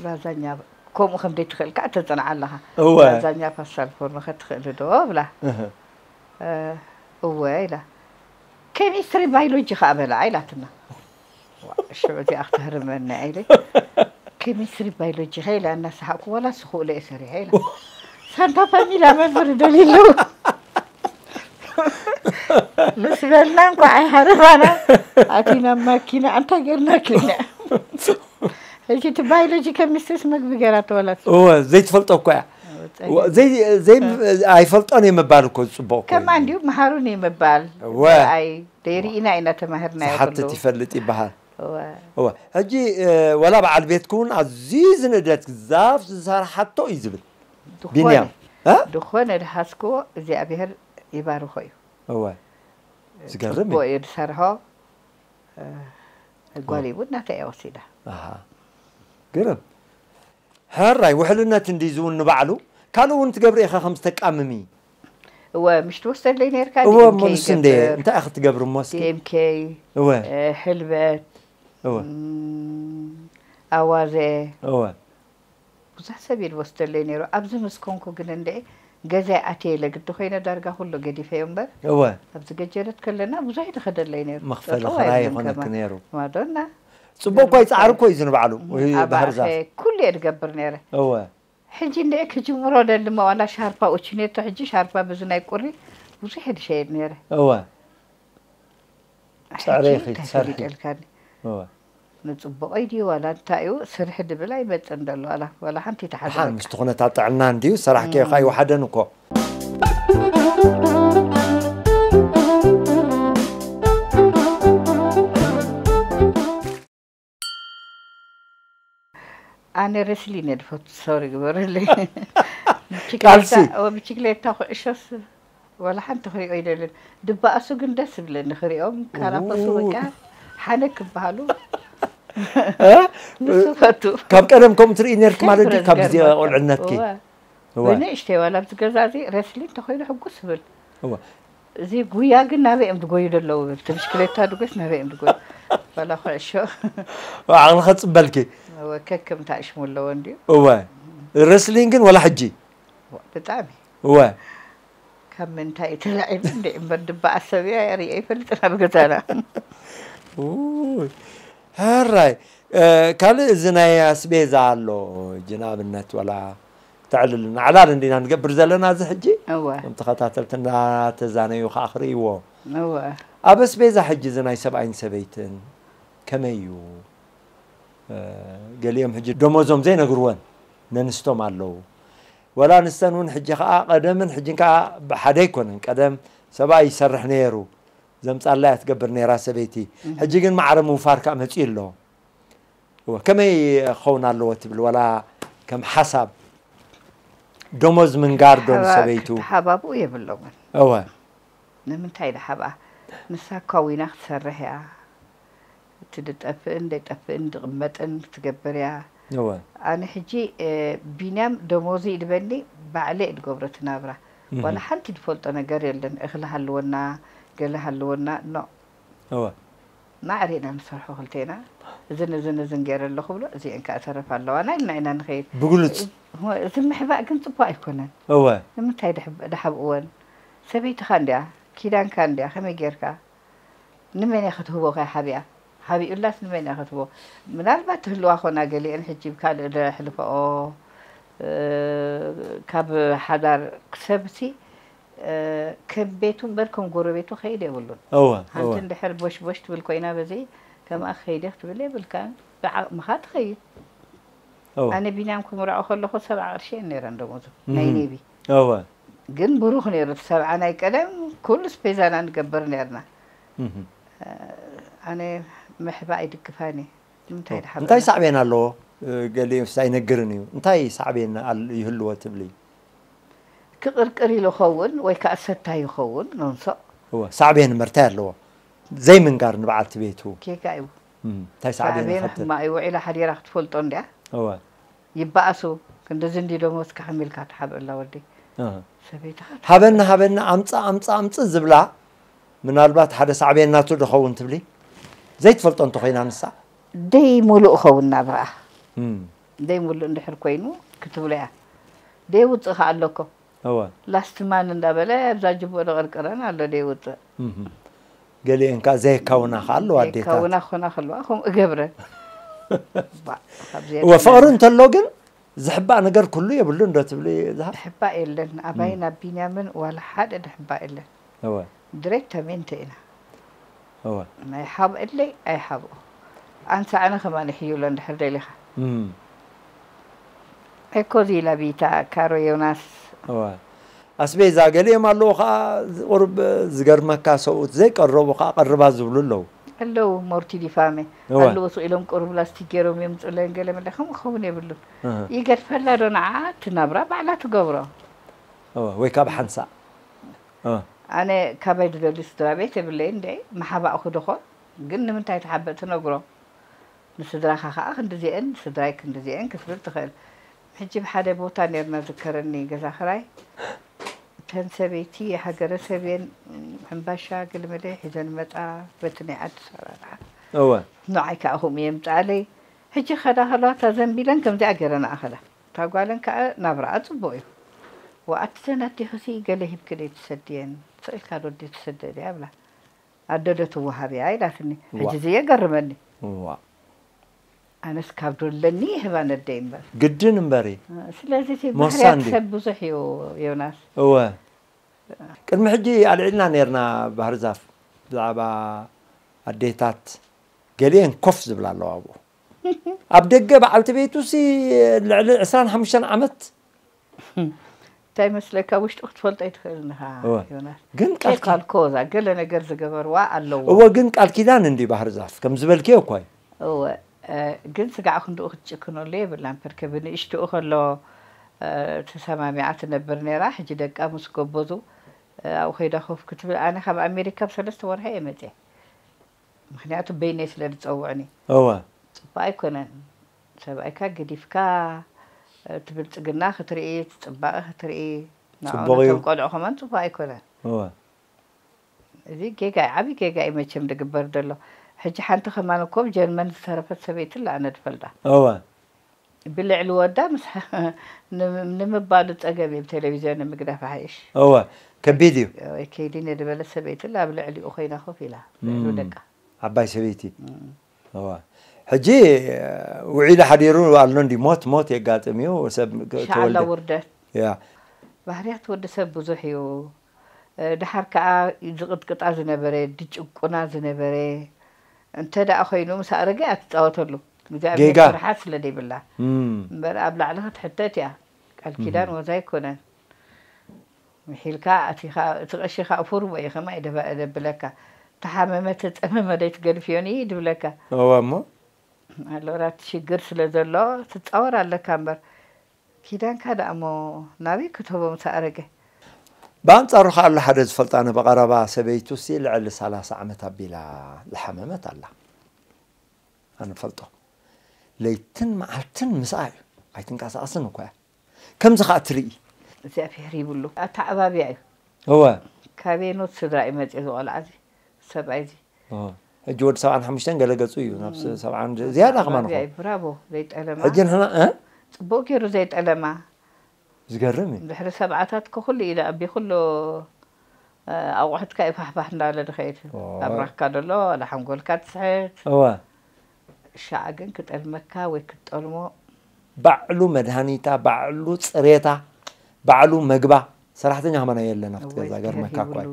ላዛኛ ከምኡ ከም ዘይትኽእል ከዓ ተፅንዓ ኣለኻ ላዛኛ ፓስታል ፎርኖ ከ ትኽእሊ ዶ እብላ እወ ኢላ ኬሚስትሪ ባይሎጂ ከኣ በላዓ ኢላትና ዋእ ሽዑ እዚኣ ክተህርመና ኢለ ኬሚስትሪ ባይሎጂ ከ ኢላ እናሰሓቅኩ ዋላ ስክእሎ እየ ሰሪሐ ኢላ ሳንታ ፋሚላ መምህር ይደልዩ ኣለዉ ምስ በልና እንኳዕ ኣይሓረፋና ኣቲና ማኪና እንታይ ጌርና ኪና ሕጂ እቲ ባይሎጂ ኬሚስትሪስ ምግቢ ገይራ ተወላት እወ ዘይትፈልጦ እኳ እያ ኣይፈልጦን እየ ምባል እኮ ዝፅቡቕ ከማ እንዲሁ መሃሩን እዩ ምባል ኣይ ደይርኢና ኢና ተማሂርናዮ ዝሓትት ይፈልጥ ይበሃል እወ ሕጂ ወላ በዓል ቤትክ እውን ኣዝዩ ዝንደድ ዛፍ ዝሰርሓቶ እዩ ዝብል ቢንያም ዝኾነ ዝሃዝክዎ እግዚኣብሄር ይባርኾ እዩ እወ ዝገርም እዩ እዩ ዝሰርሖ ጓለይ እውን ናተይ እያ ወሲዳ ግርም ሐራይ ውሕልነት እንድዩ ዝውን ንባዕሉ ካልእ እውን ትገብሪ ኢኻ ከም ዝተቃምሚ። እወ ምሽ ትወስደለይ ነርካ እወ እሞ ዲኤምኬ ንሱ እንድየ ይገብር እንታይ ኢኺ ትገብሪ እሞ እስኪ ዲኤምኬ እወ ሕልበት እወ እም፣ ኣዋዘ እወ ብዙሕ ሰብ እዩ ዝወስደለይ ነይሩ ኣብዚ ምስ ኮንኩ ግን እንድዒ ገዛይ ኣትየ ኢለ ግዲ ኮይነ ዳርጋ ኩሉ ገዲፈዮ እምበር እወ ኣብዚ ገጀረት ከለና ብዙሕ እዩ ዝኸደለይ ነይሩ መኽፈሊ ጠጠው ክራይ ኣይብልን ይኾነኪ ከማ ነይሩ ማዶና ጽቡቅ እኳ ይጻዕሩ እኮ እዩ ዝንባዕሉ ባህር ዛፍ ኩሉ እየ ድገብር ነይረ እወ ሕጂ እንድዒ ክጅምሮ ደሊ እሞ ዋላ ሻርፓ ኡቺኔቶ ሕጂ ሻርፓ በዚ ናይ ቁሪ ብዙሕ እየ ድሸይድ ነይረ እወ ሕጂ እንታይ ፈሊጠልካኒ ንጽቡቀይ ድዩ ዋላ እንታይ እዩ ስርሒ ድብል ኣይመጽን ደሎ ዋላ ዋላ ሓንቲ ተሓድረካ ምስቲ ኩነታት ጥዕና እንድዩ ሰራሕ ከይካ ይውሓደን እኮ ኣነ ረስሊ ነድፈቱ ሶሪ ግበረለይ ቃልሲ። ብችግሌታ ኩዕሾስ ወላ ሓንቲ ክሪኦ ይደልን ድበኣሱ ግን ደስ ይብለኒ ክሪኦም ካራፈሱ በቃ ሓነ ክበሃሉ ንሱ ፈቱ ካብ ቀደም ከምኡ ትርኢ ነርኪ ማለት ድዩ ካብ ግዜ ቆልዕነትኪ ወይ ንእሽተይ ዋላ ኣብዚ ገዛ እዚ ረስሊን እንተኾይኑ ሕጉስ እብል እዚ ጉያ ግን ናበይ እዮም ዝጎዩ ዘለዉ ብል እቲ ብሽክሌታ ድጎስ ናበይ እዮም ዝጎዩ ዋላ ኩዕሾ ዓቕሊ ከፅበልኪ ከከም ታእሽሙ ኣለዎ እንድዩ እወ ረስሊን ግን ዋላ ሕጂ ብጣዕሚ እወ ካብ ምንታይ እዩ ተላዒሉ እንዴ እምበር ድባ ኣሰብያ እያ ሪኤ ይፈልጥን ኣብ ገዛና ውይ፣ ሕራይ እ፣ ካልእ እዚ ናይ ኣስቤዛ ኣሎ እጂ ንኣብነት ወላ ተዕልልና ዕላል እንዲና ንገብር ዘለና እዚ ሕጂ እወ እቶም ተኸታተልቲ እንዳተዛነዩ ከዓ ክርእይዎ እወ ኣብ ኣስቤዛ ሕጂ እዚ ናይ ሰብኣይን ሰበይትን ከመይ እዩ እ፣ ገሊኦም ሕጂ ደሞዞም ዘይነግርወን ነንስቶም ኣለዉ ወላ ንሰን ውን ሕጂ ከኣ ቀደምን ሕጅን ከኣ ሓደ ኣይኮነን ቀደም ሰብኣይ ይሰርሕ ነየሩ ዘምጻላ እያ ትገብር ነራ ሰበይቲ ሕጂ ግን ማዕረ ምውፋር ከኣ መጺኡ ኣሎ እወ ከመይ ክኸውን ኣለዎ ትብል ወላ ከም ሓሳብ ደሞዝ ምንጋር ዶ ንሰበይቱ ክተሓባብኡ የብሎምን እወ ንምንታይ ድሓብኣ ንሳ ካዊና ክትሰርሕ እያ። እቲ ድጠፍእን ደይጠፍእን ድቅመጥን ክትገብር እያ እወ ኣነ ሕጂ ቢንያም ደሞዙ ይድበኒ ባዕለይ እየ ድገብሮ እቲ ናብራ ዋላ ሓንቲ ድፈልጦ ነገር የለን እክሊ ሃልወና ገለ ሃልወና ኖእ እወ ማዕረ ኢና ንሰርሖ ክልቴና እዝን እዝን እዝን ገይረ ኣለኩ ብሎ እዚኤን ካኣ ተረፍ ኣለዋና ኢልና ኢና ንከይድ ብግሉጽ እቲ ምሕባእ ግን ጽቡቅ ኣይኮነን እወ ንምንታይ ድሓብእወን ሰበይትካ እንድያ ኪዳንካ እንድያ ከመይ ገይርካ ንመን እያ ክትህቦ ከ ሓቢኣ ሓቢኡላስ ንመን እያ ክትህቦ ምናልባት ትህልዋ ኮና ገሊኤን ሕጂ ብ ካልእ ዘሕልፈኦ ካብ ሓዳር ሰብሲ ከም ቤቱ እምበር ከም ጎረቤቱ ክከይድ የብሉን እወ እወ ሓንቲ እንድሕር ቦሽ ቦሽ ትብል ኮይና በዚ ከምኣ ክከይድ እየ ክትብል የብልካን ብዓቅምካ ትከይድ እወ ኣነ ቢንያም ክምርዖ ከለኩ ሰብዓ ቅርሺ እየን ነይረን ደሞዙ ናይ እህም ኔቪ እወ ግን ብሩክ ነይሩ እቲ ሰብዓ ናይ ቀደም ኩሉ ስፔዛ ኢና ንገብር ነርና ኣነ ምሕባ ኣይድግፋን እየ ንምንታይ ድሓ እንታይ ሳዕቤን ኣለዎ ገሊኡስ ኣይነግርን እዩ እንታይ ሳዕቤን ይህልዎ ትብሊ ክቅርቅር ኢሉ ኸውን ወይ ከዓ ሰታይ ይኸውን ኖንሶ እወ ሳዕቤን መርታይ ኣለዎ ዘይምንጋር ንበዓልቲ ቤቱ ጌጋ እዩ እንታይ ሳዕቤን ሳዕቤን ይኸትል ሕማ እዩ ውዒላ ሓዲራ ክትፈልጦ እንድያ እወ ይባኣሱ ክንድዚ እንድዩ ደሞዝካ ከመይ ኢልካ ትሓብእላ ወደይ ሰበይትኻ ሃበኒ ትሓብእ። ሃበኒ ኣምጽእ ኣምጽእ ኣምጽእ ዝብላ ምናልባት ሓደ ሳዕቤን ናቱ ዶ ኸውን ትብሊ ዘይትፈልጦ እንተ ኾይና ንሳ ደይ ሙሉእ ኸውን ናብራኣ እም ደይ ሙሉእ እንድሕር ኮይኑ ክትብሎ እያ ደይ ውጽእ ከኣ ኣሎ እኮ እወ። ላስት ማን እንዳበለ ኣብዛ ጅቡእ ዝቕርቅረን ኣሎ ዘይውጽእ። ገሊኤን ከኣ ዘየካውና ከኣ ኣለዋ ኣዴታት። ዘየካውና ክኾና ከለዋ ከምኡ እገብረን። ባእ ካብዚ እወ የብለና። ፍቕሪ እንተሎ ግን ዝሕባእ ነገር ኩሉ የብሉን ዶ ትብሊ ዝሃብ? ድሕባእ የለን። ኣባይን ኣብ ቢንያምን ዋላ ሓደ ድሕባእ የለን። እወ። ድሬተሜንተ ኢና እወ። ናይ ሃብ እለይ ኣይሃብኦ ኣንሳዕነ ከማ ንሕዩሎ እንድሕር ደሊኻ። እም። ኤኮ ዚላ ቪታ ካሮ ዮናስ። እወ። ኣስቤዛ ገሊኦም ኣለዉ ከኣ ቁሩብ ዝገርመካ ሰብኡት ዘይቀረቡ ከኣ ቀርባ ዝብሉ ኣለዉ። ኣለዉ ሞርቲ ዲ ፋሜ እወ። ኣለዉ ስቅ ኢሎም ቁሩብ ላስቲክ ጌሮም የምጹለን ገለ መለ ከምኡ ክኸውን የብሉን እህ። ይገድፈላ ዶ ንዓኣ እቲ ናብራ ባዕላ ትገብሮ። እወ ወይ ካብ ሓንሳእ። ኣነ ካባይ ዝደልዩ ስድራቤት የብለይን ደይ ምሓባእኩ ዶኾን ግን ንምንታይ ትሓብእ ትነግሮ ንስድራኻ ኸኣ ክንድዜኤን ስድራይ ክንድዜኤን ክትብል ትኽእል ሕጂ ብ ሓደ ቦታ ኔርና ዝከረኒ ገዛ ክራይ እተን ሰበይቲ ሃገረ ሰብ እየን ሕምባሻ ገለመለ ሒዘን ይመጻ በቲ ናይ ዓዲ ኣሰራርሓ እወ ንዓይ ከኣ ከምኡ እየን ይምጽኣለይ ሕጂ ክኸዳ ከለዋ እታ ዘንቢለን ከምዚኣ ጌረን እኣ ከዳ እታ ጓለን ከኣ ናብራኣ ጽቡቕ እዩ ወኣቲ ዘን ኣዴኹሲ ገለ ሂብኪ ደይ ትሰድየን ስቕኢልካ ዶ ኣዴ ትስደድ እያ እብላ ኣደ ዶ ትወሃብ እያ ኢላትኒ ሕጂ እዚ የገርመኒ ዋእ ኣነስ ካብ ዶለኒ ይህባ ነደይ እምበር። ግድን እምበር እዪ ስለዚ እቲ ሞሳ ባህርያት እንድዩ። ሰብ ብዙሕ እዩ ዮናስ። እወ ቅድሚ ሕጂ ኣልዒልና ኔርና ባህርዛፍ ብዛዕባ ኣዴታት ገሊኤን ኮፍ ዝብላ ኣለዋ ኣብኡ ኣብ ደገ በዓልቲ ቤቱ ሲ ልዕሊ ዕስራን ሓሙሽተን ዓመት እንታይ መስለካ ውሽጡ ክትፈልጦ ኣይትኽእልን ኢኻ እወ። ዮናስ ግን ቃል ኬፍ ኪ- ኣልኮ እዛ ገለ ነገር ዝገበርዋ ኣለዎ እወ ግን ቃል ኪዳን እንዲ ባህር ዛፍ ከም ዝበልክዮ እኳ እዩ እወ እ፣ ግን ስጋዕ ክንድኡ ክትጭክነሉ የብላን ፐርከ ብንእሽትኡ ከሎ እ፣ ተሰማሚዓ ትነብር ነይራ ሕጂ ደቃ ምስ ጎበዙ እ፣ ኣብኡ ከይዳ ኮፍ ክትብል ኣነ ካብ ኣሜሪካ ብ ሰለስተ ወርሒ እየ መፅየ ምክንያቱ በይነይ ስለ ዝጸውዕኒ። እወ። ጽቡቅ ኣይኮነን ሰብኣይካ ገዲፍካ እቲ ብልጽግና ክትርኢ እቲ ጽባቀ ክትርኢ ንዕዑ ጽቡቅ እዩ። ነቶም ቆልዑ ከማን ጽቡቅ ኣይኮነን። እወ። እዚ ጌጋ እዩ ዓቢ ጌጋ እዩ መቸም ዝግበር ዘሎ ሕጂ ሓንቲ ከማን እኮ ብ ጀርመን ዝተረፈት ሰበይቲ ኣላ ኣነ ዝፈልጣ። እወ። ብልዕሊ ወዳ ምስ ንምባሉ ጸገም እዩ ብቴሌቪዝዮን ምግዳፍ ይሓይሽ። እወ ከቢድ እዩ። ወይ ከይዲ ንድበለት ሰበይትን ኣብ ልዕሊኡ ኮይና ኮፍ ኢላ ልዕሉ ደቃ። ዓባይ ሰበይቲ እወ ሕጂ ውዒሉ ሓዲሩ ኣሎ እንድዩ ሞት ሞት የጋጥም እዩ ሰብ ኢንሻኣላህ ውርደት። ባህርያት ወዲ ሰብ ብዙሕ እዩ። ደሓር ከኣ ዝቕጥቅጣ ዝነበረ ዝጭቁና ዝነበረ እንተ ኮይኑ ምስ ኣረገ እያ ትጻወተሉ እግዚኣብሄር ፍርሓት ስለ ዘይብላ እምበር ኣብ ላዕሊ ክትሕተት እያ ቃል ኪዳን ዋዛ ኣይኮነን ምሒልካ ኣቲኻ እቲ ቐሺ ከኣ ፉርሞ እዩ ከማይ ደብለካ ተሓመመ ተጸመመ ዘይትገድፍዮን እዪ ድብለካ እወ እሞ ኣሎራት ሽግር ስለ ዘሎ ትጻወር ኣለካ እምበር ኪዳንካ ደኣ'ሞ ናበይ ክትህቦም ትኣረገ? ብኣንጻሩ ከኣ ኣሎ ሓደ ዝፈልጣ ኣነ ብቐረባ፣ ሰበይቱሲ ልዕሊ ሰላሳ ዓመት ኣቢላ ዝሓመመት ኣላ። ኣነ እፈልጦ። ለይትን መዓልትን ምስኣ'ዩ። ኣይትንቀሳቐስን እኳ'ያ። ከምዚ ከኣ ትርኢ። እግዚኣብሄር ይብሉ። ኣተዓባብያ'ዩ። እወ። ካበየኖት ስድራ'ዩ መጺኡ እዚ ቆልዓ'ዚ? ሰብኣይ እዚ ሕጂ ወዲ ሰብዓን ሓሙሽተን ገለ ገጹ እዩ ናብ ሰብዓን ዝያዳ ከማን ኾ ብራቮ ዘይጠለማ ሕጂ ንሕና ጽቡቅ ገይሩ ዘይጠለማ ዝገርም እዩ ድሕሪ ሰብዓታት ኩሉ እዩ ኣብ ኩሉ ኣቁሑትካ እዩ ፋሕፋሕ እንዳበለ ዝኸይድ ኣብራኽካ ዘሎ ዋላ ሓንጎልካ ትስሕት እወ ሻዕ ግን ክጠልመካ ወይ ክትጠልሞ። ባዕሉ መድሃኒታ ባዕሉ ጽሬታ ባዕሉ መግባ ሰራሕተኛ ከማና የለን ኣብቲ እወ ገዛ እግዝኣብሄር ገርመካ እኳ ሂብሉ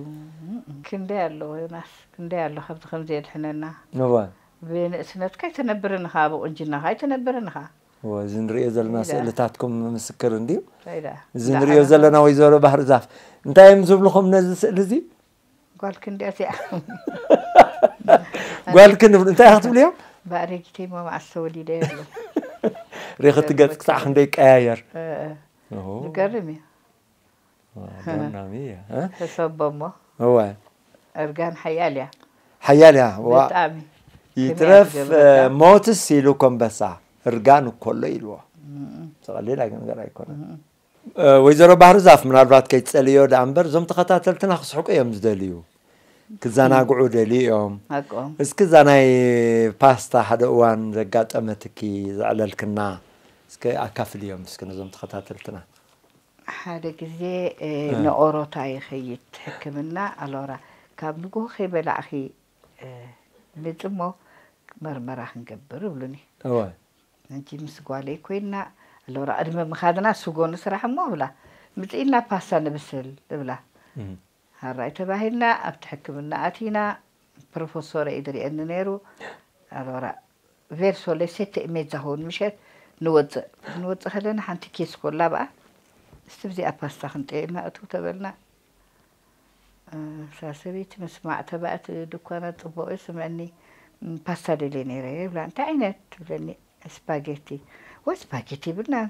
እም ክንደይ ኣሎ ዮናስ ክንደይ ኣሎ ካብዚ ከምዚ የድሕነና እወ ብንእስነትካ ኣይትነብርን ኢኻ ብቁንጅናኻ ኣይትነብርን ኢኻ እወ እዚ ንርእዮ ዘለና እንታይ ደኣ ስእልታትኩም ምስክር እንድዩ እንታይ ደኣ እዚ ንርእዮ እንዳዓበኻ ዘለና ወይዘሮ ባህርዛፍ እንታይ እዮም ዝብልኹም ነዚ ስእሊ እዚ ጓልክ እንዲያት እያ ጓልክ ንብሉ እንታይ ኢኻ ክትብልዮ ብኣረጊተይ ሞ መዓስ ተወሊደ የብሉ ሬኸቲ ገጽ ክሳዕ ክንደ ይቀያየር ዝገርም እዩ ኣገናሚ እየ ሕሰቦ እሞ እወ እርጋን ሓያል እያ ሓያል እያ ብጣዕሚ ይትረፍ ሞትስ ኢሉ ኮምበሳ እርጋን እኮሎ ኢልዎ ተቐሊል ነገር ኣይኮነን ወይዘሮ ባህርዛፍ ምናልባት ከይትጸልዮ ደኣ እምበር እዞም ተኸታተልትና ክስሕቁ እዮም ዝደልዩ ክዘናግዑ ደልዩ እዮም ሓቆም እስኪ እዛ ናይ ፓስታ ሓደ እዋን ዘጋጠመትኪ ዘዕለልክና እስኪ ኣካፍልዮም እስኪ ነዞም ተኸታተልትና ሓደ ግዜ እ፣ ንኦሮታ ይኸይድ ሕክምና ኣሎራ ካብ ንግሆ ከይበላዕኺ እ፣ ምጽሞ መርመራ ክንገብር እብሉኒ እወ ሕጂ ምስ ጓለይ ኮይና ኣሎና ዕድመ ምካድና ስጎ ንስራሕ እሞ እብላ ምጺኢና ፓስታ ንብስል እብላ ሃራይ ተባሂልና ኣብቲ ሕክምና ኣቲና ፕሮፎሶረ እዩ ድሪኤኒ ነይሩ ኣሎራ ቬርሶ ለ ሴተ ኢሜዛ ሆን ምሸት ንወጽእ ክንወጽእ ከለና ሓንቲ ኬስ ኮላ ብኣ እስቲ ብዚኣ ፓስታ ክንጥየማ እትው ተበልና እዛ ሰበይቲ ምስማዕ ተባእት ድኳና ጽቡቕ እዩ ስምዕኒ ፓስታ ደልየ ነይረ ይብላ እንታይ ዓይነት ትብለኒ ስፓጌቲ ወይ ስፓጌቲ ይብልናን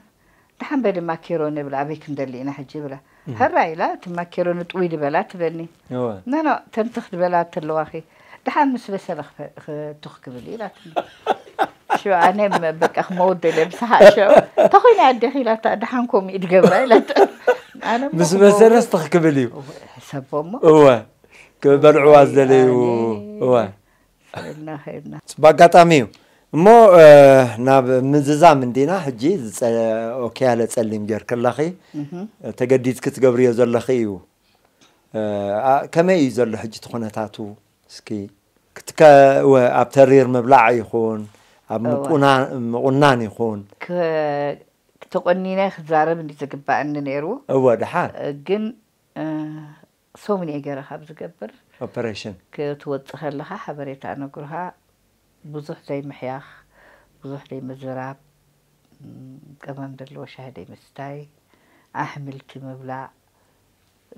ደሓን በሊ ማኬሮኒ ይብላ ኣበይ ክንደሊ ኢና ሕጂ ይብላ ሃራ ኢላ እቲ ማኬሮኒ ጥውይ ድበላ ትብለኒ ኖኖ ተንተኽ ድበላ ተለዋኺ ደሓን ምስ በሰለ ትኽ ክብል ኢላትኒ። ሽዑ ኣነ በቃ ክመውደለ ብሰሓቅ ሽዑ እንታይ ኮይና ኣዴኺ ኢላታ ደሓን ከምኡ ድገብራ ኢላታ ኣነ እሞ ምስ በሰለስ ትኽ ክብል እዩ ሕሰቦ እሞ እወ ክበልዕዋ ዝደለዩ እወ ከይድና ከይድና ፅቡቅ ኣጋጣሚ እዩ እሞ እ፣ ናብ ምዝዛም እንዲና ሕጂ ዝፀ- ኦኬ ያለ ፀሊም ጌርክለኺ ተገዲድኪ ትገብርዮ ዘለኺ እዩ ከመይ እዩ ዘሎ ሕጂ እቲ ኩነታቱ እስኪ ክትከ እወ ኣብ ተሪር ምብላዕ ይኹን ኣብ እወ ምቁና- ምቑናን ይኹን ክ- ተቖኒነ ክዛረብ እንዲ ዝግባእኒ ነይሩ እወ ደሓን እ፣ ግን እ፣ ሰሙን እየ ገይረ ካብ ዝገብር ኦፐሬሽን ክትወጽእ ከለኻ ሓበሬታ እነግሩኻ ብዙሕ ዘይምሕያኽ ብዙሕ ዘይምዝራብ ም፣ ቀመም ዘለዎ ሻሂ ዘይምስታይ ኣሕምልቲ ምብላዕ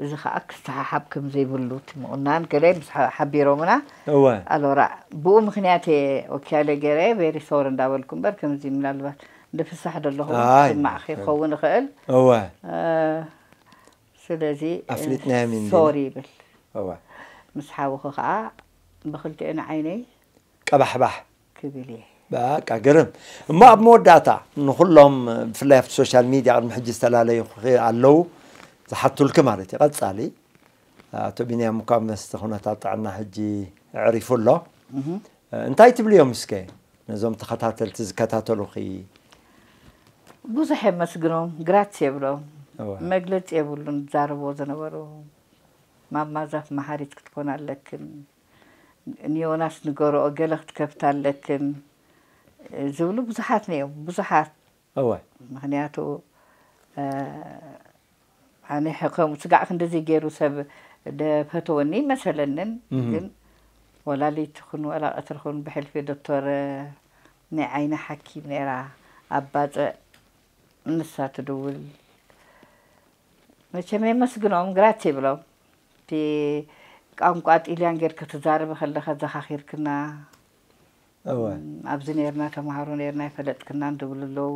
እዚ ከኣ ክሰሓሓብ ከም ዘይብሉ እቲ ምቑናን ገለ ምስ ሓቢሮምና እወ ኣሎራ ብኡ ምክንያት እየ ወኪያለ ገይረ ቬሪ ሶሪ እንዳበልኩ እምበር ከምዚ ምናልባት ንፍሳሕ ደለኹ ኣይ፣ ክስማዕ ክኸውን ይኽእል እወ እ፣ ስለዚ ኣፍሊጥናዮም ኢና። ሶሪ ይብል እወ ምስ ሓውኺ ከኣ ብክልቲኤን ዓይነይ ቀባሕባሕ ክብል እየ። በቃ ግርም እሞ ኣብ መወዳእታ ንኹሎም ብፍላይ ኣብቲ ሶሻል ሚድያ ቅድሚ ሕጂ ዝተላለዩ ኣለዉ ዝሓቱልኪ ማለት እዩ ቀጻሊ ኣቶ ቢንያም እኳ መስቲ ኩነታት ጥዕና ሕጂ ዕሪፉ ኣሎ እንታይ ትብልዮም እስከ ነዞም ተኸታተልቲ ዝከታተሉኺ ብዙሕ የመስግኖም ግራትስ የብሎም መግለፂ የብሉን ዝዛረብዎ ዝነበሩ ማማ ዛፍ መሃሪት ክትኮና ኣለክን። ንዮናስ ንገሮኦ ገለ ክትከፍት ኣለክን ዝብሉ ብዙሓት ነይሮም ብዙሓት እወ ምክንያቱ ኣነ ከምኡ ስጋዕ ክንደዚ ገይሩ ሰብ ደፈተወኒ መሰለንን ግን ወላሊት ኹን ወላ ቀትሪ ኹን ብሕልፊ ዶክተር ናይ ዓይኒ ሓኪም ነይራ ኣብ ባፅዕ ንሳ ትድውል መቸም የመስግኖም ግራት ይብሎም እቲ ቛንቛ ጢልያን ጌርኪ ትዛረቢ ከለኺ ኣዘኻኺርክና እወ ኣብዚ ኔርና ተማሃሮ ኔርና ኣይፈለጥክናን ዝብሉ ኣለዉ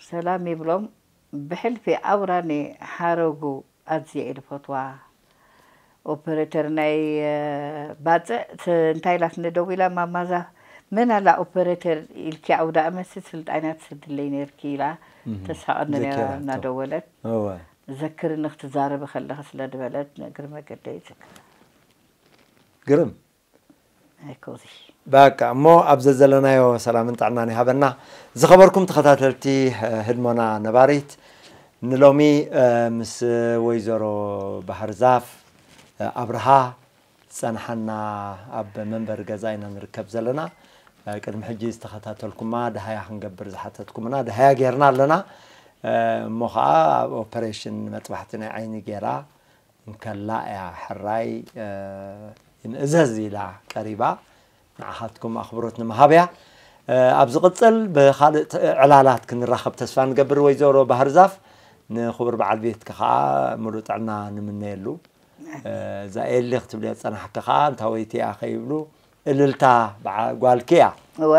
ሰላም ይብሎም ብሕልፊ ኣውራ ን ሓረጉ ኣዝየ እየ ዝፈትዋ ኦፐረተር ናይ ባጽዕ እንታይ ኢላ ትንደው ኢላ ማማዛ መን ኣላ ኦፐረተር ኢልኪ ኣውዳእመትሲ ስልጣንያ ትሰድለይ ነርኪ ኢላ ተሳቐኒ ነራ እናደወለት ዘክርኒ ክትዛረቢ ከለኺ ስለዝበለት ንእግሪ መገደይ ይዝክራ። ግርም! በቃ እሞ ኣብ ዘዘለናዮ ሰላምን ጥዕናን ይሃበና። ዝኸበርኩም ተኸታተልቲ ህድሞና ነባሪት ንሎሚ ምስ ወይዘሮ ባህርዛፍ ኣብርሃ ዝጸንሓና ኣብ መንበሪ ገዛ ኢና ንርከብ ዘለና። ቅድሚ ሕጂ ዝተኸታተልኩማ ደሃያ ክንገብር ዝሓተትኩምና ደሃያ ጌርና ኣለና። እሞ ኸኣ ኣብ ኦፐሬሽን መጥባሕቲ ናይ ዓይኒ ጌራ እንከላ እያ ሕራይ ይንእዘዝ ኢላ ቀሪባ ንዓኻትኩም ኣኽብሮት ንምሃብ እያ። ኣብ ዝቕፅል ብኻልእ ዕላላት ክንራኸብ ተስፋ ንገብር ወይዘሮ ባህር ዛፍ ንክቡር በዓል ቤትኪ ከዓ ሙሉእ ጥዕና ንምነየሉ እዛ ኤሊ ክትብልዮ ዝፀናሕኪ ከዓ እንታወይቲ እያ ከይብሉ እልልታ ብዓ ጓልኪ እያ እወ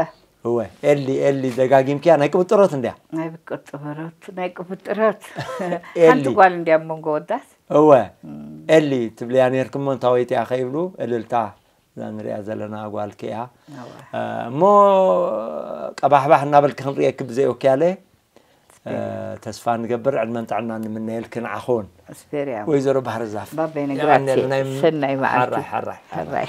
እወ ኤሊ ኤሊ ደጋጊምክያ ናይ ቅብጥሮት እንድያ ናይ ብቅጥበሮት ናይ ቅብጥሮት ኤሊ። ሓንቲ ጓል እንዲያ መንጎ ወዳት እወ ኤሊ ትብልያ ነርክሞ እንታወይቲ እያ ከይብሉ እልልታ እዛ ንሪኣ ዘለና ጓልኪ እያ እሞ ቀባሕባሕ እናበልኪ ክንሪኤኪ ብዘይወክያለ ተስፋ ንገብር ዕድመን ጥዕናን ንምነየልኪ ንዓኹን ኣስፔርያ ወይዘሮ ባህርዛፍ ባበይ ነግራቴ ሰናይ መዓልቲ ሓራሕ ሓራሕ